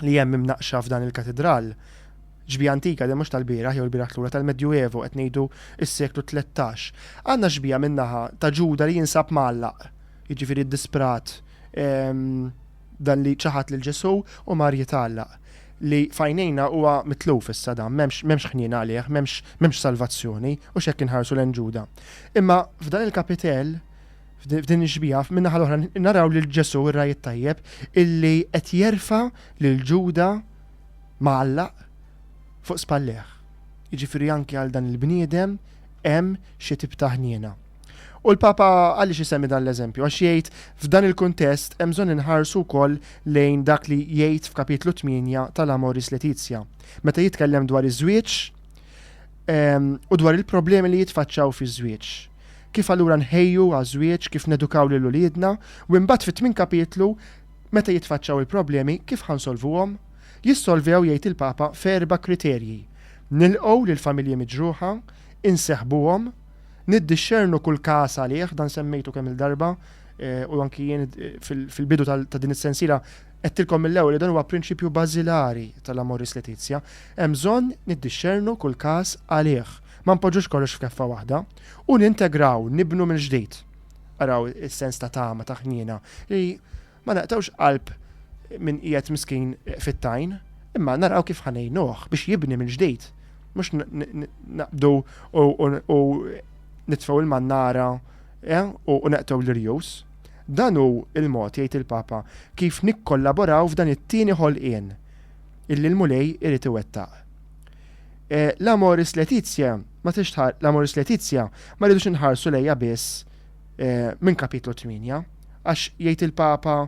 li hemm imnaqqxa f'dan il-katidral, xbieha antika din mhux tal-bieraħ jew il-bieraħ lura, tal-Medjuevo, qed ngħidu s-seklu tlettax, għandna xbieha minn naħa ta' Ġuda li jinsab mgħallaq, jiġifieri d-disprat, Dan li ċaħad lil Ġesù u mar jitgħallaq. Li f'għajnejna huwa mitluf issa dan, m'hemmx, m'hemmx ħniena għalih, m'hemmx, m'hemmx salvazzjoni, hux hekk inħarsu lejn Ġuda. Imma f'dan il-kapitell, f'din ix-xbieha, min-naħa l-oħra naraw lil Ġesù, ir-Ragħaj it-Tajjeb, illi qed jerfa' lil Ġuda mgħallaq fuq spallejh. Jiġifieri anki għal dan il-bniedem hemm xi tip ta' ħniena. U l-Papa għaliex isemmi dan l-eżempju? Għax jgħid f'dan il-kuntest hemm bżonn inħarsu wkoll lejn dak li jgħid f'kapitlu 8 tal-Amoris Letizia. Meta jitkellem dwar iż-żwieġ ehm, u dwar il-problemi li jitfaċċaw fiż-żwieġ. Kif allura nħejju għaż-żwieġ, kif nedukaw lil uliedna, u imbagħad fit-tmien kapitlu meta jitfaċċaw il-problemi kif ħansolvuhom? Jissolvew jgħid il-Papa ferba kriterji. Nilqgħu lill-familji miġruħa, inseħbuhom, Niddixxernu kull każ għalih, dan semmejtu kemm il-darba, eh, u anki jien eh, fil-bidu ta' din is-sensila qedtilkom mill-ewwel li dan huwa prinċipju bażilari tal-Amoris Letizia, hemm bżonn niddixxernu kull każ għalih. Ma npoġġux kollox f'keffa waħda u nintegraw, nibnu mill-ġdid. Araw is-sens ta' tama ta' ħniena li Ma naqtgħux qalb min qiegħed miskin fit-tajn, imma naraw kif ħanejnuh biex jibni mill-ġdid, mhux naqbdu u nitfgħu l-mannara eh, u neqtgħu l-irjus. Dan hu l-mod, jgħid il-Papa, kif nikkollaboraw f'dan it-tieni ħolqien illi l-Mulej irid iwettaq. Eh, L-Amoris Laetitia ma rridux inħarsu lejha biss minn Kapitlu tmienja, għax jgħid il-Papa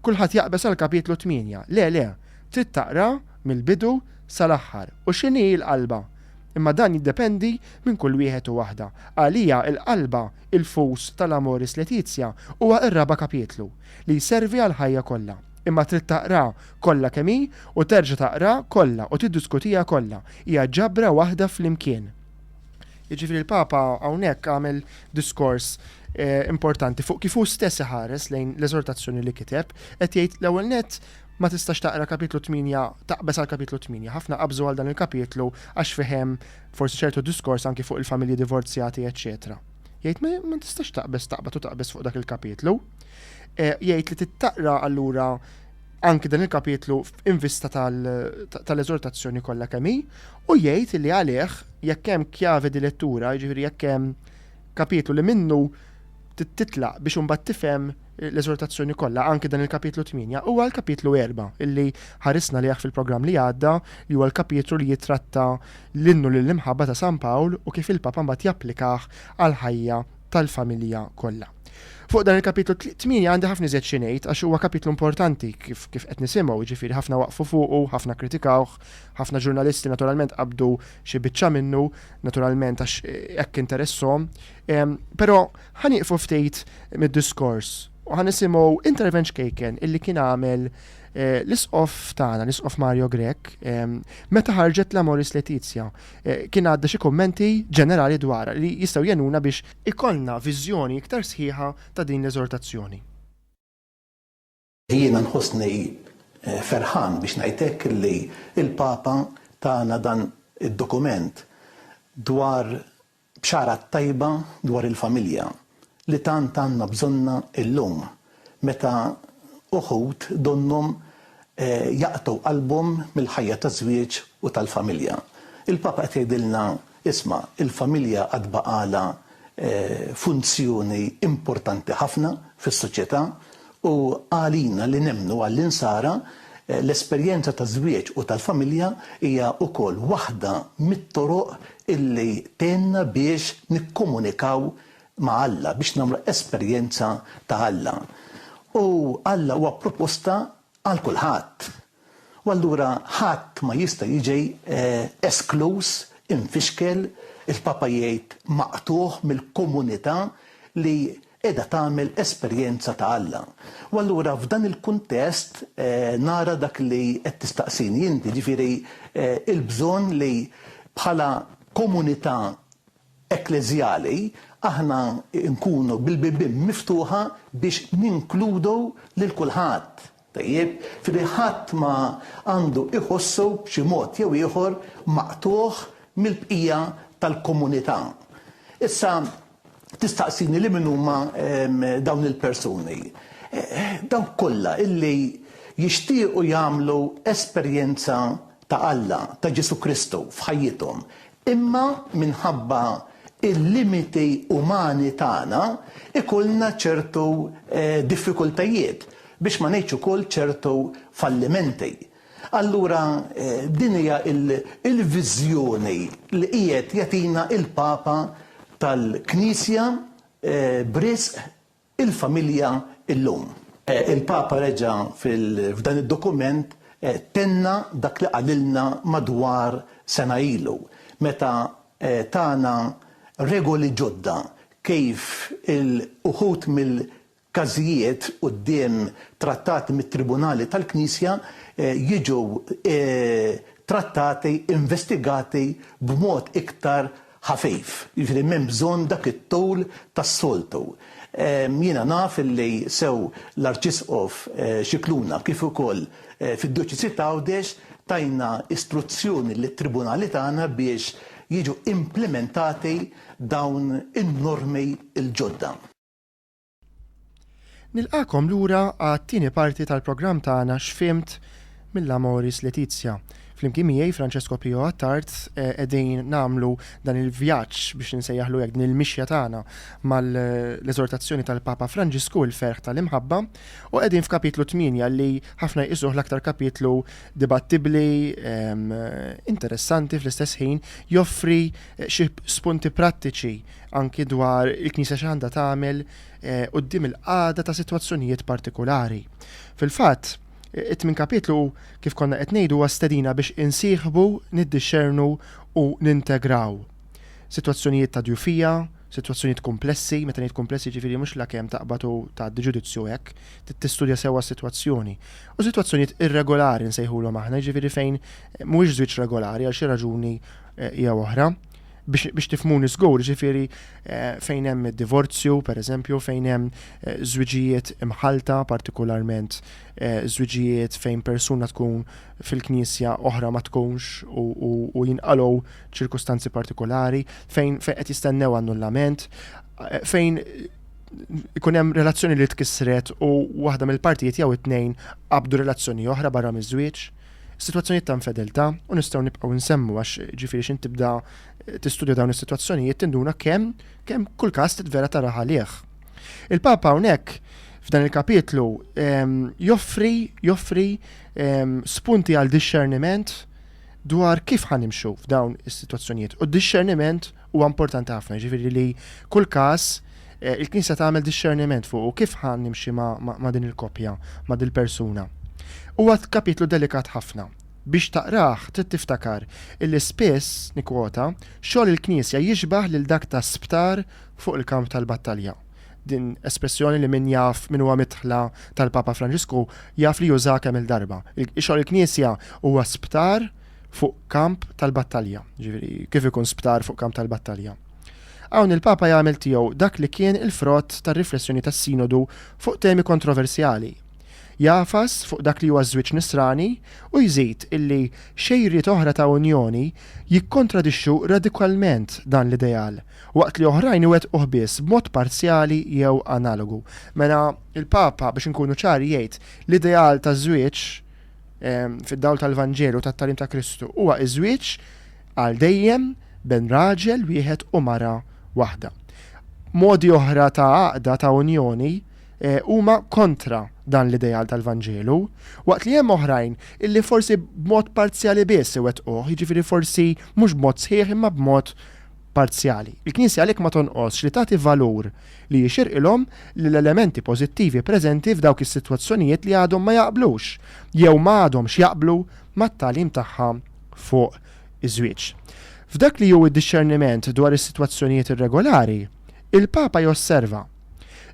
kulħadd jaqbeż għal Kapitlu tmienja. Le, le, trid taqra mill-bidu sal-aħħar u x'inhi l-qalba. Imma dan jiddependi minn kull wieħed u waħda. Għalija l-qalba, il-fus tal-Amoris Laetitia huwa r-raba' kapitlu, li jservi għall-ħajja kollha. Imma trid taqra kollha kemm hi u terġa' taqra kollha u tiddiskutiha kollha. Hija ġabra waħda flimkien. Jiġifieri l-Papa hawnhekk għamel diskors eh, importanti fuq kif hu stess iħares lejn l-eżortazzjoni li kiteb, qed jgħid l-ewwel net ma tistax taqra kapitlu 8, taqbes għal kapitlu 8. Ħafna qabżu għal dan il-kapitlu għax fihem forsi ċertu diskors anki fuq il-familji divorzjati, eċċetera. Jgħid ma tistax taqbes taqbad u taqbes fuq dak il-kapitlu. Eh, jgħid li tittaqra allura anki dan il-kapitlu f'invista tal-eżortazzjoni kollha kemm hi, u jgħid li għalih jekk hemm kjave di lettura, jiġifieri jekk hemm kapitlu li minnu titlaq biex imbagħad tifhem l-eżortazzjoni kollha anki dan il-kapitlu 8 huwa l-kapitlu 4 illi ħarisna liħ fil-programm li għadda li huwa l-kapitlu li jitratta l-innu lill-imħabba ta' San Pawl u kif il-Papa mbagħad japplikah għal ħajja tal-familja kollha. Fuq dan il-kapitlu 8 għandi ħafna iżjed xi ngħid għax huwa kapitlu importanti kif kif qed nisimgħu, jiġifieri ħafna waqfu fuqu, ħafna kkritikawh, ħafna ġurnalisti naturalment qabdu xi biċċa minnu, naturalment għax hekk interesshom. Ehm, però ħa nieqfu ftit mid-diskors u ħa nisimgħu intervent xkejken illi kien għamel eh, l-isqof tagħna, l-isqof Mario Grek, ehm, meta ħarġet l-Amoris Letizia. kien għadda xi kummenti ġenerali dwarha li jistgħu jgħinuna biex ikollna viżjoni iktar sħiħa ta' din l-eżortazzjoni. Jiena nħossni ferħan biex ngħid hekk li l-Papa tana dan id-dokument dwar Bxara t-tajba dwar il-familja li tant għandna bżonnha illum meta uħud donnhom jaqtgħu qalbhom mill-ħajja taż-żwieġ u tal-familja. Il-Papa qed jgħidilna, isma', il-familja għad baqgħalha funzjoni importanti ħafna fis-soċjetà U għalina li nemmnu għall-Insara, l-esperjenza taż-żwieġ u tal-familja hija wkoll waħda mit-toroq illi tgħinna biex nikkomunikaw ma' Alla, biex nagħmlu esperjenza ta' Alla. U Alla huwa proposta għal kulħadd. U allura ħadd ma jista' jiġi eskluż, imfixkel, il-Papa jgħid maqtugħ mill-komunità li qiegħda tagħmel esperjenza ta' Alla. U allura f'dan il-kuntest nara dak li qed tistaqsini inti, jiġifieri l-bżonn li bħala komunità ekkleżjali, aħna nkunu bil-bibien miftuħa biex ninkludu lil kulħadd, tajjeb, f'idejh ħadd ma għandu iħossu b'xi mod jew ieħor maqtugħ mill-bqija tal-komunità. Issa tistaqsini li min huma dawn il-persuni. Dawk kollha illi jixtiequ jagħmlu esperjenza ta' Alla, ta' Ġesù Kristu, f'ħajjithom. Imma minħabba l-limiti umani tagħna jkollna ċertu diffikultajiet, biex ma ngħidx ukoll ċertu fallimenti. Allura din hija l-viżjoni li qiegħed jagħtina l-Papa tal-Knisja b'risq il-familja llum. Il-Papa reġa' f'dan id-dokument tenna dak li qalilna madwar sena ilu meta tana regoli ġodda kif uħud mill-każijiet quddiem trattati mit-tribunali tal-Knisja jiġu trattati, investigati b'mod iktar ħafif, jiġifieri m'hemm bżonn dak it-tul tas-soltu. Jiena naf illi sew l-Arċisqof Scicluna kif ukoll fid-Djoċesi t'Għawdex tajna istruzzjoni lit-tribunali tagħna biex jiġu implimentati dawn in-normi l-ġodda. Nilqagħkom lura għat-tieni parti tal-programm tagħna X'Fhimt mill-Amoris Laetitia. Flimkien miegħi Francesco Pio Attard eh, qegħdin nagħmlu dan il-vjaġġ biex insejjaħlu hekk din il-mixja tagħna mal-eżortazzjoni tal-Papa Franġisku il-ferħ tal-imħabba u qegħdin f'kapitlu 8 li ħafna jqisuh l-aktar kapitlu dibattibbli ehm, interessanti fl-istess ħin joffri eh, xi spunti prattiċi anki dwar il-Knisja x'għandha tagħmel quddiem il-qagħda ta' sitwazzjonijiet partikulari. Fil-fatt, it-tmin kapitlu kif konna qed ngħidu huwa stedina biex insieħbu, niddixxernu u nintegraw sitwazzjonijiet ta' djufija, sitwazzjonijiet kumplessi, meta ngħid kumplessi jiġifieri mhux lakemm taqbad u tgħaddi ġudizzju hekk, tistudja sewwa s-sitwazzjoni, u sitwazzjonijiet irregolari nsejħulhom aħna, jiġifieri fejn mhuwiex żwieġ regolari għal xi raġuni jew oħra. biex tifhmuni żgur, ġifieri eh, fejn hemm id-divorzju, pereżempju, fejn hemm eh, żwiġijiet imħalta, partikolarment eh, żwiġijiet fejn persuna tkun fil-knisja oħra ma tkunx u jinqalgħu ċirkustanzi partikolari, fejn fejn qed jistennew annullament, fejn ikun hemm relazzjoni li tkissret u waħda mill-partijiet jew it-tnejn qabdu relazzjoni oħra barra miż-żwieġ. Sitwazzjonijiet ta' infedeltà, u nistgħu nibqgħu nsemmu għax ġifieri x'int tibda tistudja dawn is-sitwazzjonijiet tinduna kemm kemm kull każ titvera tara għalih. Il-Papa hawnhekk f'dan il-kapitlu ehm, joffri joffri ehm, spunti għal dixxerniment dwar kif ħanimxu f'dawn is-sitwazzjonijiet. U d-dixxerniment Huwa importanti ħafna, jiġifieri li kull każ il-Knisja tagħmel dixxerniment fuqu kif ħa nimxi ma' din il-koppja, ma' dil-persuna. Huwa kapitlu delikat ħafna. Biex taqrah trid tiftakar illi spiss, nikkwota, xogħol il-Knisja jixbah lil dak ta' sptar fuq il-kamp tal-battalja. Din espressjoni li min jaf min huwa midħla tal-Papa Franġisku jaf li użaha kemm-il darba. Xogħol il-Knisja huwa sptar fuq kamp tal-battalja, ġifieri kif ikun sptar fuq kamp tal-battalja. Hawn il-Papa jagħmel tiegħu dak li kien il-frott tar-riflessjoni tas-Sinodu fuq temi kontroversjali. Jagħfas fuq dak li huwa ż-żwieġ Nisrani u jżid illi xejriet oħra ta' unjoni jikkontradixxu radikalment dan l-ideal, waqt li oħrajn iwettquh biss b'mod parzjali jew analogu. Mela, il-Papa, biex inkunu ċari, jgħid, l-ideal taż-żwieġ, fid-dawl tal-Vanġelu tat-tagħlim ta' Kristu huwa iż-żwieġ għal dejjem bejn raġel wieħed u mara waħda. Modi oħra ta' għaqda ta' unjoni eh, huma kontra dan l-ideal tal-Vanġelu, waqt li hemm oħrajn illi forsi b'mod parzjali biss iwettquh, jiġifieri forsi mhux b'mod sħiħ imma b'mod parzjali. Il-Knisja għalhekk ma tonqosx li tagħti valur li jixirqilhom lill-elementi pożittivi preżenti f'dawk is-sitwazzjonijiet li għadhom ma jaqblux jew ma għadhomx jaqblu mat-tagħlim tagħha fuq iż-żwieġ. F'dak li hu d-dixxerniment dwar is-sitwazzjonijiet irregolari, il-Papa josserva,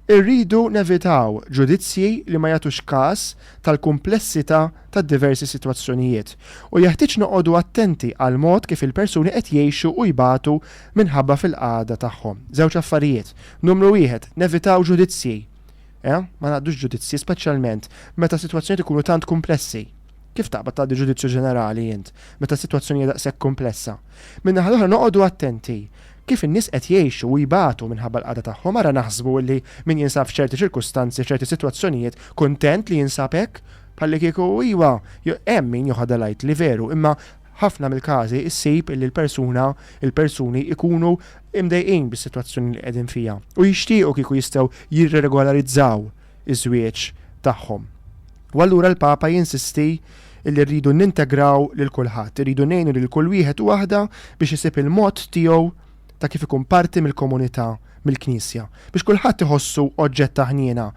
Irridu nevitaw ġudizzji li ma jagħtux każ tal-kumplessità tad-diversi sitwazzjonijiet, u jeħtieġ noqogħdu attenti għall-mod kif il-persuni qed jgħixu u jbatu minħabba fil-qagħda tagħhom. Żewġ affarijiet, numru wieħed, nevitaw ġudizzji. Eh, ma ngħaddux ġudizzji, speċjalment meta s-sitwazzjonijiet ikunu tant kumplessi. Kif taqbad tgħaddi ġudizzju ġenerali int, meta s-sitwazzjoni hija daqshekk kumplessa? Min-naħa l-oħra noqogħdu attenti kif in-nies qed jgħixu u jbatu minħabba l-qagħda tagħhom, ara naħsbu illi min jinsab f'ċerti ċirkustanzi, f'ċerti sitwazzjonijiet, kuntent li jinsab hekk? Bħallikieku iwa, hemm min joħodha lightly veru, imma ħafna mill-każi ssib illi l-persuna, il-persuni jkunu mdejqin bis-sitwazzjoni li qegħdin fiha u jixtiequ kieku jistgħu jirregolarizzaw iż-żwieġ tagħhom. U allura l-Papa jinsisti li rridu nintegraw lil kulħadd, irridu ngħinu lil kull wieħed u waħda biex isib il-mod tiegħu ta' kif ikun parti mill-komunità, mill-Knisja, biex kulħadd iħossu oġġett ta' ħniena.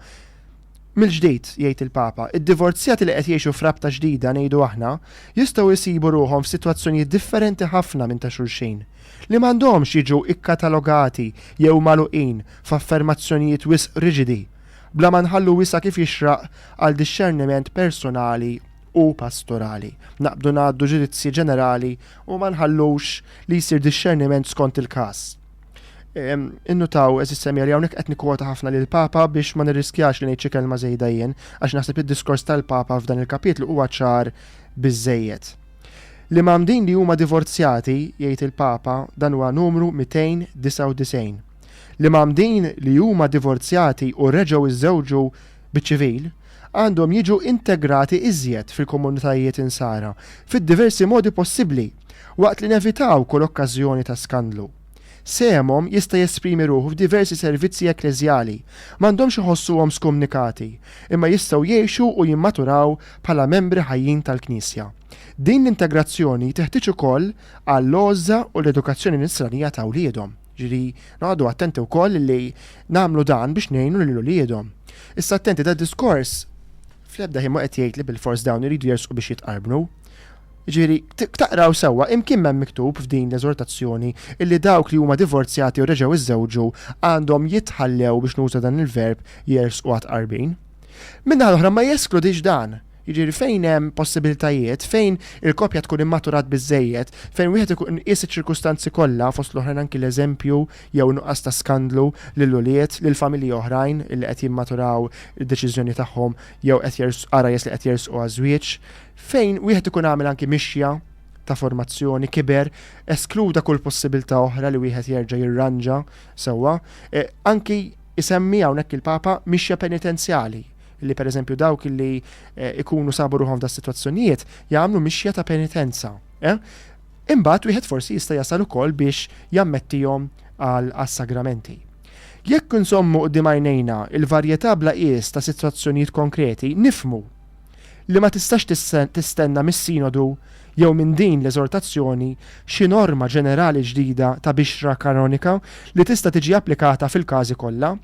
Mill-ġdid, jgħid il-Papa, id-divorzjati li qed jgħixu f'rabta ġdida, ngħidu aħna, jistgħu jsibu ruħhom f'sitwazzjonijiet differenti ħafna minn ta' xulxin. li m'għandhomx jiġu kkatalogati jew magħluqin f'affermazzjonijiet wisq riġidi, bla ma nħallu wisa' kif jixraq għal dixxerniment personali u pastorali. Naqbdu ngħaddu ġudizzji ġenerali u ma nħallux li jsir dixxerniment skont il-każ. Innutaw, eżis semmiegħa, li hawnhekk qed nikkwota ħafna lill-Papa biex ma nirriskjax li ngħid xi kelma żejda jien, għax naħseb li d-diskors tal-Papa f'dan il-kapitlu huwa ċar biżżejjed. L-imgħammdin li huma divorzjati, jgħid il-Papa, dan huwa numru 299, l-imgħammdin li huma divorzjati u reġgħu jżewġu biċ-ċivil, għandhom jiġu integrati iżjed fil-komunitajiet Insara fid-diversi modi possibbli, waqt li nevitaw kull okkażjoni ta' skandlu. Sehemhom jista' jesprimi ruħu f'diversi servizzi ekkleżjali. M'għandhomx iħossuhom skumnikati, imma jistgħu jgħixu u jimmaturaw bħala membri ħajjin tal-Knisja. Din l-integrazzjoni teħtieġ ukoll għall-għożża u l-edukazzjoni nisranija ta' wliedhom. Jiġifieri, noqogħdu attenti wkoll li nagħmlu dan biex ngħinu lil uliedhom. Issa attenti, dad-diskors fl-ebda ħin mhu qed jgħid li bilfors dawn iridu jersqu biex jitqarbnu. Jiġifieri, taqraw sewwa, imkien m'hemm miktub f'din l-eżortazzjoni illi dawk li huma divorzjati u reġgħu iżżewġu għandhom jitħallew, biex nuża dan il-verb, jersqu għat-tqarbin. Min-naħa l-oħra ma jeskludix dan. Jiġifieri, fejn hemm possibilitajiet, fejn il-koppja tkun immaturat biżżejjed, fejn wieħed ikun qies iċ-ċirkustanzi kollha, fost l-oħrajn anki l-eżempju jew in-nuqqas ta' skandlu lill-ulied, lil familji oħrajn illi qed jimmaturaw id-deċiżjoni tagħhom jew qed jersqu, qara jersqu li qed jersqu għaż-żwieġ, Fejn wieħed ikun għamel anki mixja ta' formazzjoni, kiber, eskluda kull possibilità oħra li wieħed jerġa' jirranġa sewwa. E, anki isemmi hawnhekk il-Papa mixja penitenzjali, li pereżempju dawk li e, ikunu sabu ruħhom f'da sitwazzjonijiet jagħmlu mixja ta' penitenza. E? Imbagħad wieħed forsi jista' jasal ukoll biex jammettihom għal sagramenti. Jekk insommu qudiem għajnejna il-varjetà bla qies ta' sitwazzjonijiet konkreti, nifmu li ma tistax tistenna mis-Sinodu jew minn din l-eżortazzjoni xi norma ġenerali ġdida ta' bixra kanonika li tista' tiġi applikata fil-każi kollha.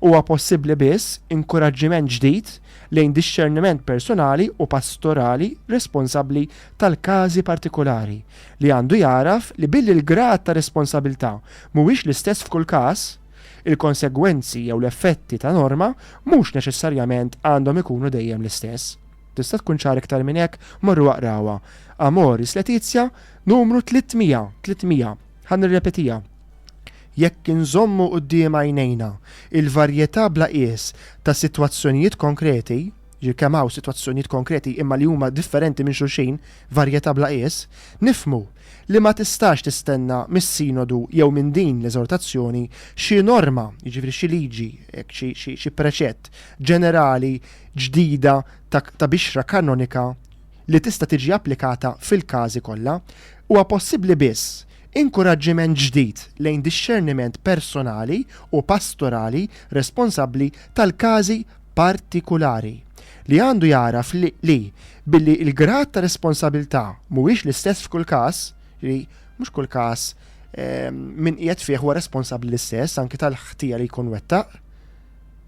Huwa possibbli biss inkuraġġiment ġdid lejn dixxerniment persunali u pastorali responsabbli tal-każi partikulari, li għandu jagħraf li billi l-grad ta' responsabilità mhuwiex l-istess f'kull każ, Il-konsegwenzi jew l-effetti ta' norma mhux neċessarjament għandhom ikunu dejjem l-istess. Tista' tkun ċar iktar minn hekk? Morru aqrawha. Amoris Laetitia, numru 300, 300. Ħa nirrepetiha. Jekk inżommu quddiem għajnejna l-varjetà bla qies ta' sitwazzjonijiet konkreti, ġifieri kemm hawn sitwazzjonijiet konkreti imma li huma differenti minn xulxin, varjetà bla qies, nifhmu, li ma tistax tistenna mis-Sinodu jew minn din l-eżortazzjoni xi norma, jiġifieri xi liġi, xi preċett, ġenerali ġdida ta' bixra kanonika li tista' tiġi applikata fil-każi kollha. Huwa possibbli biss inkuraġġiment ġdid lejn dixxerniment personali u pastorali responsabbli tal-każi partikulari, li għandu jagħraf li, Billi l-grad ta' responsabilità mhuwiex l-istess f'kull każ, ġifieri mhux kull każ min qiegħed fih huwa responsabbli l-istess anki tal-ħtija li jkun wettaq,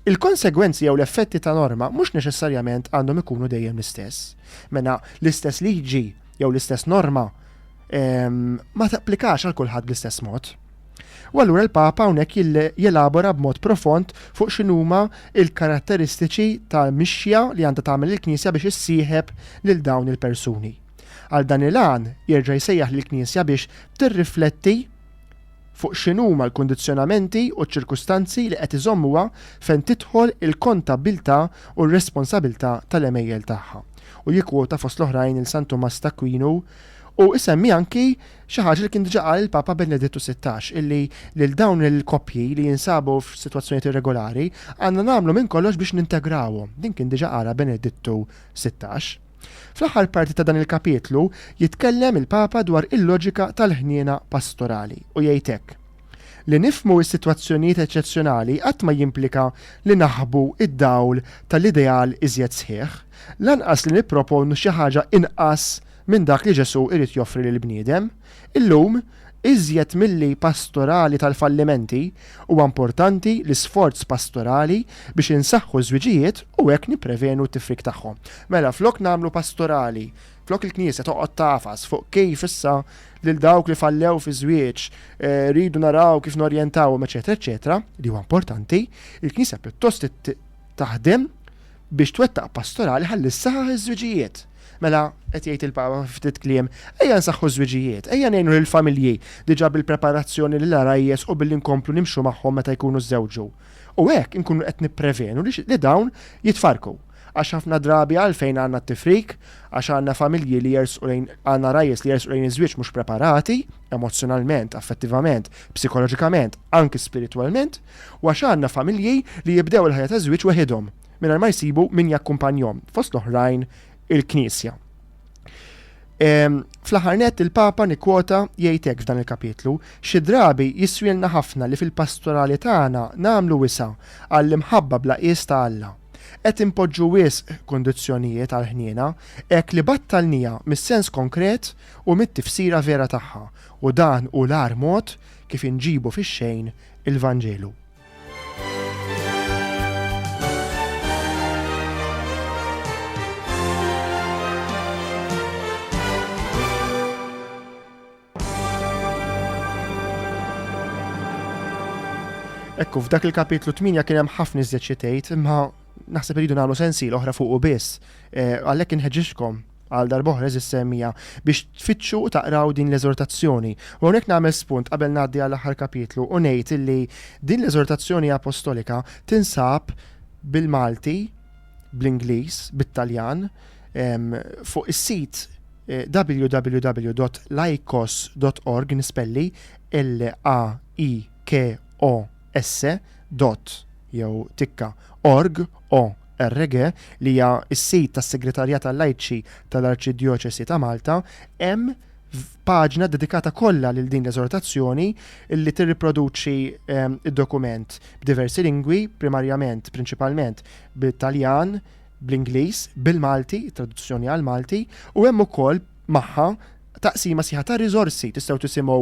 il-konsegwenzi jew l-effetti ta' norma mhux neċessarjament għandhom ikunu dejjem l-istess. Mela, l-istess liġi jew l-istess norma ma tapplikax għal kulħadd bl-istess mod. U allura l-Papa hawnhekk jelabora b'mod profond fuq x'inhuma l-karatteristiċi ta' mixja li għandha tagħmel il-Knisja biex issieħeb lil dawn il-persuni. Għal dan il-għan jerġa' jsejjaħ lill-Knisja biex tirrifletti fuq x'inhuma l-kundizzjonamenti u ċ-ċirkustanzi li qed iżommuha fejn tidħol il-kontabbiltà u r-responsabilità tal-għemejjel tagħha. U jikkwota fost l-oħrajn lil San Tumas t'Akwinu Hu isemmi anki xi ħaġa li kien diġà qal il-Papa Benedittu Sittax, illi lil dawn il-koppji li jinsabu f'sitwazzjonijiet irregolari għandna nagħmlu minn kollox biex nintegrawhom. Din kien diġà qalha Benedittu Sittax. Fl-aħħar parti ta' dan il-kapitlu jitkellem il-Papa dwar il-loġika tal-ħniena pastorali u jgħid hekk, Li nifhmu s-sitwazzjonijiet eċċezzjonali qatt ma jimplika li naħbu d-dawl tal-ideal iżjed sħiħ, lanqas li nipproponu xi ħaġa inqas minn dak li Ġesù jrid joffri lill-bniedem. Illum, iżjed milli pastorali tal-fallimenti, huwa importanti l-isforz pastorali biex insaħħu ż-żwiġijiet u hekk nipprevenu t-tifrik tagħhom. Mela, flok nagħmlu pastorali Flok il-Knisja toqgħod tagħfas fuq kif issa lil dawk li fallew fi żwieġ eh, rridu naraw kif norjentawhom eċetera eċetera, li huwa importanti, il-Knisja pjuttost taħdem biex twettaq pastorali ħalli saħħ iż-żwiġijiet. Mela, qed jgħid il-Papa ftit kliem, ejja nsaħħu żwiġijiet, ejja ngħinu lill-familji diġà bil-preparazzjoni lil arajjes u billi nkomplu nimxu magħhom meta jkunu żewġu. U hekk inkunu qed nipprevenu li dawn jitfarku. Għax ħafna drabi għalfejn għandna t-tifrik? Għax għandna familji li jersqu lejn, għandna ragħajjes li jersqu lejn iż-żwieġ mhux preparati, emozzjonalment, affettivament, psikoloġikament, anki spiritwalment, u għax għandna familji li jibdew il-ħajja taż-żwieġ weħidhom, mingħajr ma jsibu min jakkumpanjhom, fost l-oħrajn il-Knisja. Ehm, fl-aħħar nett il-Papa nikkwota jgħid hekk f'dan il-kapitlu, xi drabi jiswielna ħafna li fil-pastorali tagħna nagħmlu wisa' għall-imħabba bla qies ta' Alla. Qed inpoġġu wisq kundizzjonijiet għall-ħniena hekk li battalniha mis-sens konkret u mit-tifsira vera tagħha, u dan hu l-agħar mod kif inġibu fix-xejn il-Vanġelu. Ekku, f'dak il-kapitlu 8 kien hemm ħafna iżjed xi tgħid, imma naħseb iridu nagħmlu sensi l-oħra fuq u biss. Eh, għalhekk inħeġġixkom għal darboħra eżis semmija biex tfittxu u taqraw din l-eżortazzjoni. U hawnhekk nagħmel spunt qabel ngħaddi għall aħħar kapitlu u ngħid illi din l-eżortazzjoni apostolika tinsab bil-Malti, bl-Ingliż, bit-Taljan, fuq is-sit www.laikos.org nispelli l a i k o s dot jew tikka org o RG li hija s-sit tas-Segretarjat għal-Lajċi tal-Arċidjoċesi ta' Malta, hemm paġna dedikata kollha lil din l-eżortazzjoni li tirriproduċi ehm, id-dokument b'diversi lingwi, primarjament, prinċipalment, bit-Taljan, bl-Ingliż, bil-Malti, it-traduzzjoni għall-Malti, u hemm ukoll magħha taqsima sħiħa ta' riżorsi tistgħu tisimgħu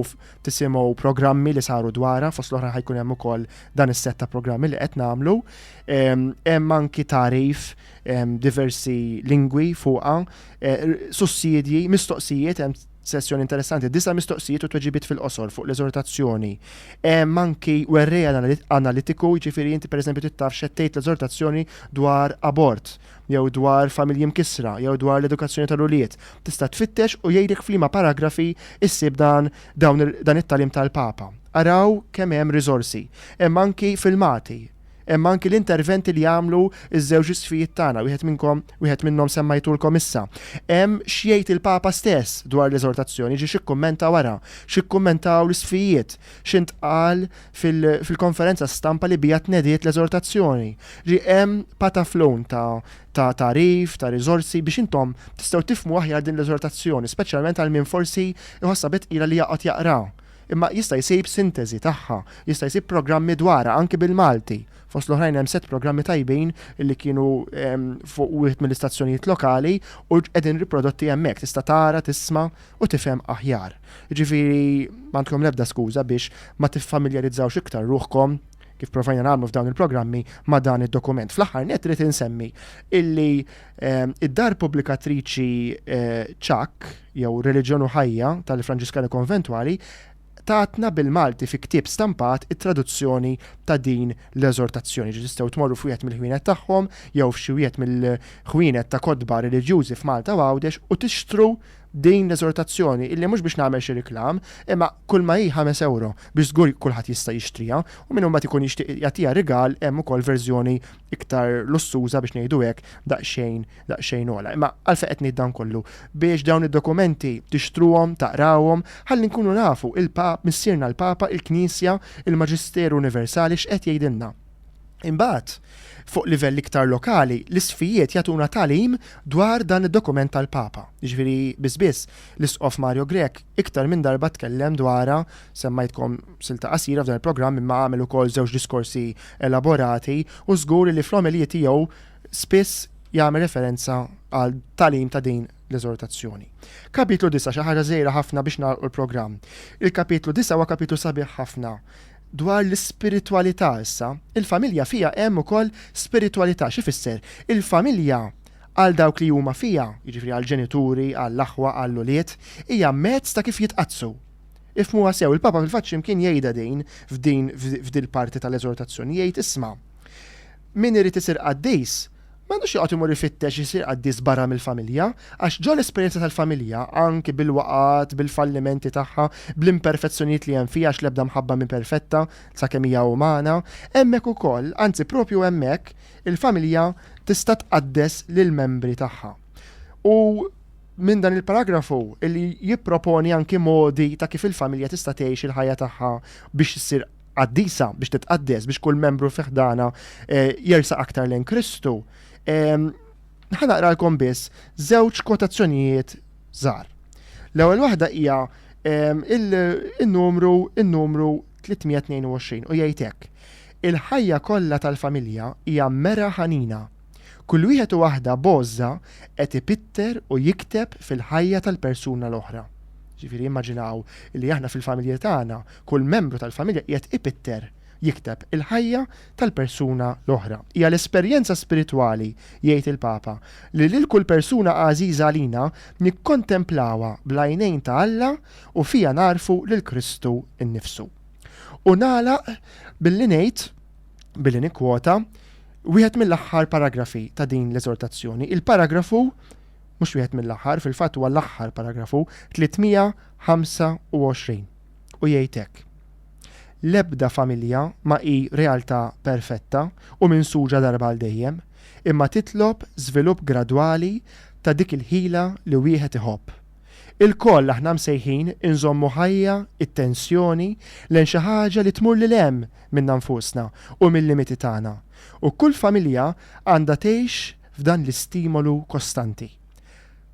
tisimgħu programmi li saru dwarha fost l-oħra ħajkun hemm ukoll dan is-set ta' programmi li qed nagħmlu. Hemm anki tarif diversi lingwi fuqha, eh, sussidji, mistoqsijiet hemm Sessjoni interessanti, disa' mistoqsijiet u tweġibiet fil-qosor fuq l-eżortazzjoni. Hemm anki werrej analitiku, jiġifieri inti pereżempju trid taf x'qed tgħid l-eżortazzjoni dwar abort, jew dwar familji mkissra, jew dwar l-edukazzjoni tal-ulied. Tista' tfittex u jgħidlek f'liema paragrafi ssib dan dan it-tagħlim tal-Papa. Araw kemm hemm riżorsi. Hemm anki filmati. Hemm anki l-interventi li għamlu ż-żewġ isqfijiet tagħna, wieħed minnkom, wieħed minnhom semmajtulkom issa. Hemm x'jgħid il-Papa stess dwar l-eżortazzjoni, ġie x'ikkummenta wara, x'ikkummentaw l-isqfijiet, x'intqal fil-konferenza stampa li biha tnediet l-eżortazzjoni. Ġi hemm pataflun ta' ta' tagħrif, ta' riżorsi biex intom tistgħu tifhmu aħjar din l-eżortazzjoni, speċjalment għal min forsi jħossha bit tqila li jaqgħod jaqraha. Imma jista' jsib sinteżi tagħha, jista' jsib programmi dwarha anki bil-Malti. Fost l-oħrajn hemm sett programmi tajbin li kienu fuq wieħed mill-istazzjonijiet lokali u qegħdin riprodotti hemmhekk, tista' tara, tisma' u tifhem aħjar. Jiġifieri m'għandkom l-ebda skuża biex ma tiffamiljarizzawx iktar ruħkom, kif provajna nagħmlu f'dawn il-programmi, ma' dan id-dokument. Fl-aħħar nett irid insemmi illi Id-dar pubblikatriċi Ċakk, jew Reliġjon u Ħajja tal-Franġiskani Konventwali, tatna bil-Malti fi ktieb stampat it-traduzzjoni ta' din l-eżortazzjoni. Ġi tistgħu tmorru f'wieħed mill-ħwienet tagħhom jew f'xi wieħed mill-ħwienet ta' kotba reliġjużi f'Malta u Għawdex u tixtru din l-eżortazzjoni illi mhux biex nagħmel xi riklam, imma kull ma hi ħames ewro biex żgur kulħadd jista' jixtriha u min imbagħad ikun jixtieq jagħtiha rigal hemm ukoll verżjoni iktar lussuża biex ngħidu hekk daqsxejn daqsxejn ola. Imma għalfejn qed ngħid dan kollu biex dawn id-dokumenti tixtruhom, taqrawhom, ħalli nkunu nafu il-Pap, missierna l-Papa, il-Knisja, il-Maġisteru Universali x'qed jgħidilna. Imbagħad, fuq livell iktar lokali, l-isfijiet jagħtuna tagħlim dwar dan id-dokument tal-Papa. Jiġifieri biss biss l-Isqof Mario Grech iktar minn darba tkellem dwarha semmajtkom silta qasira f'dan il-programm imma għamel ukoll żewġ diskorsi elaborati u żgur li fl-omelija tiegħu spiss jagħmel referenza għal talim ta' din l-eżortazzjoni. Kapitlu 9 xi ħaġa żejra ħafna biex nagħlqu l-programm. Il-kapitlu 9 huwa kapitlu sabiħ ħafna dwar l-ispiritwalità issa. Il-familja fija hemm ukoll spiritwalità xi fisser? Il-familja għal dawk li huma fija, jiġifieri għall-ġenituri, għall-aħwa, għall-ulied, hija mezz ta' kif jitqaddsu. Ifhmuha sew, il-Papa fil-fatt x'imkien jgħidha din f'din f'dil-parti tal-eżortazzjoni jgħid isma', min irid isir qaddis ma għandux joqgħod imur ifittex isir qaddis barra mill-familja, għax ġo l-esperjenza tal-familja, anki bil-waqgħat, bil-fallimenti tagħha, bl-imperfezzjonijiet li hemm fiha għax l-ebda mħabba mhi perfetta sakemm hija umana, hemmhekk ukoll, anzi propju hemmhekk, il-familja tista' tqaddes lill-membri tagħha. U minn dan il-paragrafu li jipproponi anki modi ta' kif il-familja tista' tgħix il-ħajja tagħha biex issir qaddisa, biex titqaddes, biex kull membru fi ħdana eh, jersa aktar lejn Kristu. Ehm, ħanaqralkom biss żewġ kotazzjonijiet żgħar. L-ewwel waħda hija ehm, il-numru il-numru 322 u jgħid hekk. Il-ħajja kollha tal-familja hija mera ħanina Kull wieħed u waħda b'għożża qed ipitter u jikteb fil-ħajja tal-persuna l-oħra. Jiġifieri immaġinaw li aħna fil-familji tagħna, kull membru tal-familja qiegħed ipitter, jikteb, il-ħajja tal-persuna l-oħra. Hija l-esperjenza spiritwali, jgħid il-Papa, li lil kull persuna għażiża għalina nikkontemplawha bl-għajnejn ta' Alla u fiha nagħrfu lil Kristu nnifsu. U nagħlaq billi ngħid, billi nikkwota, Wieħed mill-aħħar paragrafi ta' din l-eżortazzjoni, il-paragrafu, mhux wieħed mill-aħħar, fil-fatt huwa l-aħħar paragrafu, 325, u jgħid hekk, L-ebda familja ma hi realtà perfetta u minsuġa darba għal dejjem, imma titlob żvilupp gradwali ta' dik il-ħila li wieħed iħobb. Ilkoll aħna msejħin inżommu ħajja t-tensjoni lejn xi ħaġa li tmur lil hemm minna nfusna u mil-limiti tagħna, u kull familja għandha tgħix f'dan l-istimolu kostanti.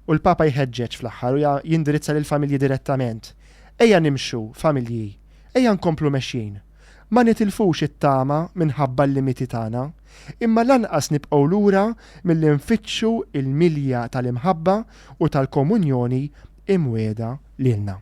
U l-Papa jħeġġeġ fl-aħħar u jindirizza lill-familji direttament, Ejja nimxu, familji, ejja nkomplu mexjin. Ma nitilfux it-tama minħabba l-limiti tagħna, imma lanqas nibqgħu lura milli nfittxu l-milja tal-imħabba u tal-komunjoni imwiegħda lilna.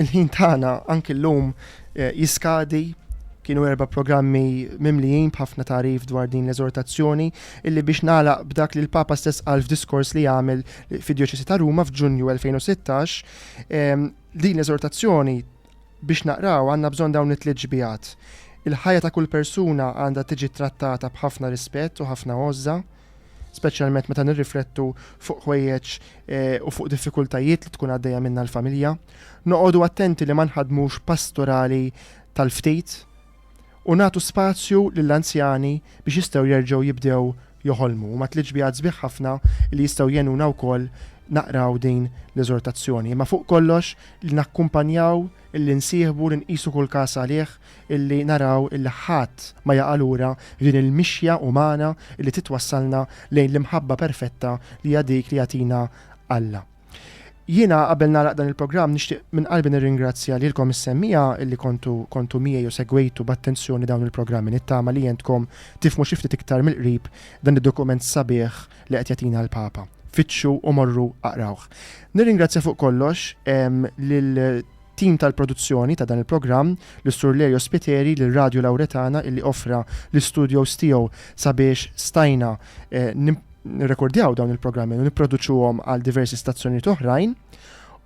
Il-ħin tagħna anki llum eh, jiskadi kienu erba programmi mimlijin b'ħafna tarif dwar din l-eżortazzjoni illi biex nalaq b'dak li l-Papa stess għal f'diskors li għamel fid-Djoċesi ta' Ruma f'Ġunju 2016 ehm, din l-eżortazzjoni biex naqraw għandna bżonn dawn it-tliet ġbijat. Il-ħajja ta' kull persuna għandha tiġi trattata b'ħafna rispett u ħafna għożża. speċjalment meta nirriflettu fuq ħwejjeġ eh, u fuq diffikultajiet li tkun għaddejja minna l-familja. Noqogħdu attenti li ma nħadmux pastorali tal-ftit u nagħtu spazju lill-anzjani biex jistgħu jerġgħu jibdew joħolmu. Ma tliġ bi sbieħ ħafna li jistgħu jenuna wkoll naqraw din l-eżortazzjoni. Ma fuq kollox li nakkumpanjaw, li nsieħbu, li nqisu kull każ għalih illi naraw illi ħadd ma jaqa' lura f'din il-mixja umana illi titwassalna lejn l-imħabba perfetta li hija dik li jagħtina Alla. Jiena qabel nagħlaq dan il-programm nixtieq minn qalbi nirringrazzja lilkom is-semmiegħa illi kontu kontu miegħi u segwejtu b'attenzjoni dawn il-programmi nittama li jentkom tifhmu xi ftit iktar mill-qrib dan id-dokument sabiħ li qed jagħtina l-Papa. Fittxu u morru aqrawh. Nirringrazzja fuq kollox lil tim tal-produzzjoni ta' dan il-programm, lis-Sur Lerio Spiteri, lil Radju Lauretana illi offra l-istudios tiegħu sabiex stajna nirrekordjaw dawn il-programmi u nipproduċuhom għal diversi stazzjonijiet oħrajn.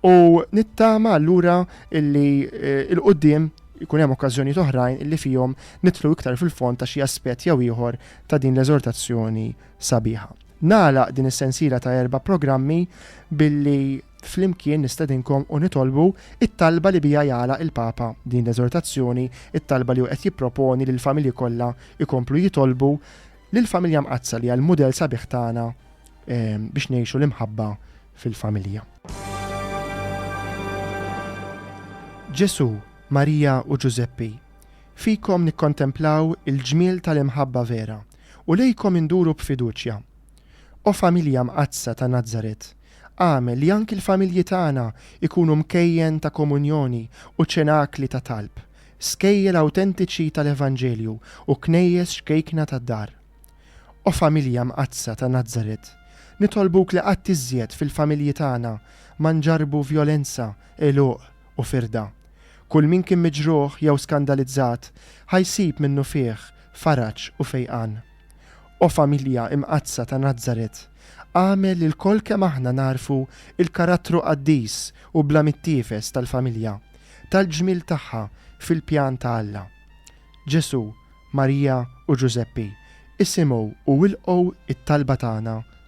U nittama allura illi il-qudiem jkun hemm okkażjonijiet oħrajn illi fihom nidħlu iktar fil-fond ta' xi aspett jew ieħor ta' din l-eżortazzjoni sabiħa. Nagħlaq din is-sensiela ta' erba' programmi billi flimkien nistedinkom u nitolbu t-talba li biha jagħlaq il-Papa din l-eżortazzjoni, it-talba li hu qed jipproponi lill-familji kollha jkomplu jitolbu lill-Familja Mqaddsa li hija l-mudell sabiħ tagħna biex ngħixu l-imħabba fil-familja. Ġesù, Marija u Ġużeppi, fikom nikkontemplaw il-ġmiel tal-imħabba vera. u lejkom induru b'fiduċja. O Familja Mqaddsa ta' Nazaret, agħmel li anki l-familji tagħna jkunu mkejjen ta' komunjoni u ċenakli ta' talb, skejjel awtentiċi tal-Evanġelju u knejjes xkejkna tad-dar. O Familja Mqaddsa ta' Nazaret, nitolbuk li qatt iżjed fil-familji tagħna ma nġarrbu vjolenza, għeluq, u firda. Kull min kien miġruħ jew skandalizzat ħa jsib minnufih faraġ u fejqan. O Familja Imqaddsa ta' Nazaret, agħmel li lkoll kemm aħna nagħrfu l-karattru qaddis u bla mittiefes tal-familja, tal-ġmiel tagħha fil-pjan ta' Alla. Ġesù, Marija u Ġużeppi, isimgħu u ilqgħu t-talba tagħna.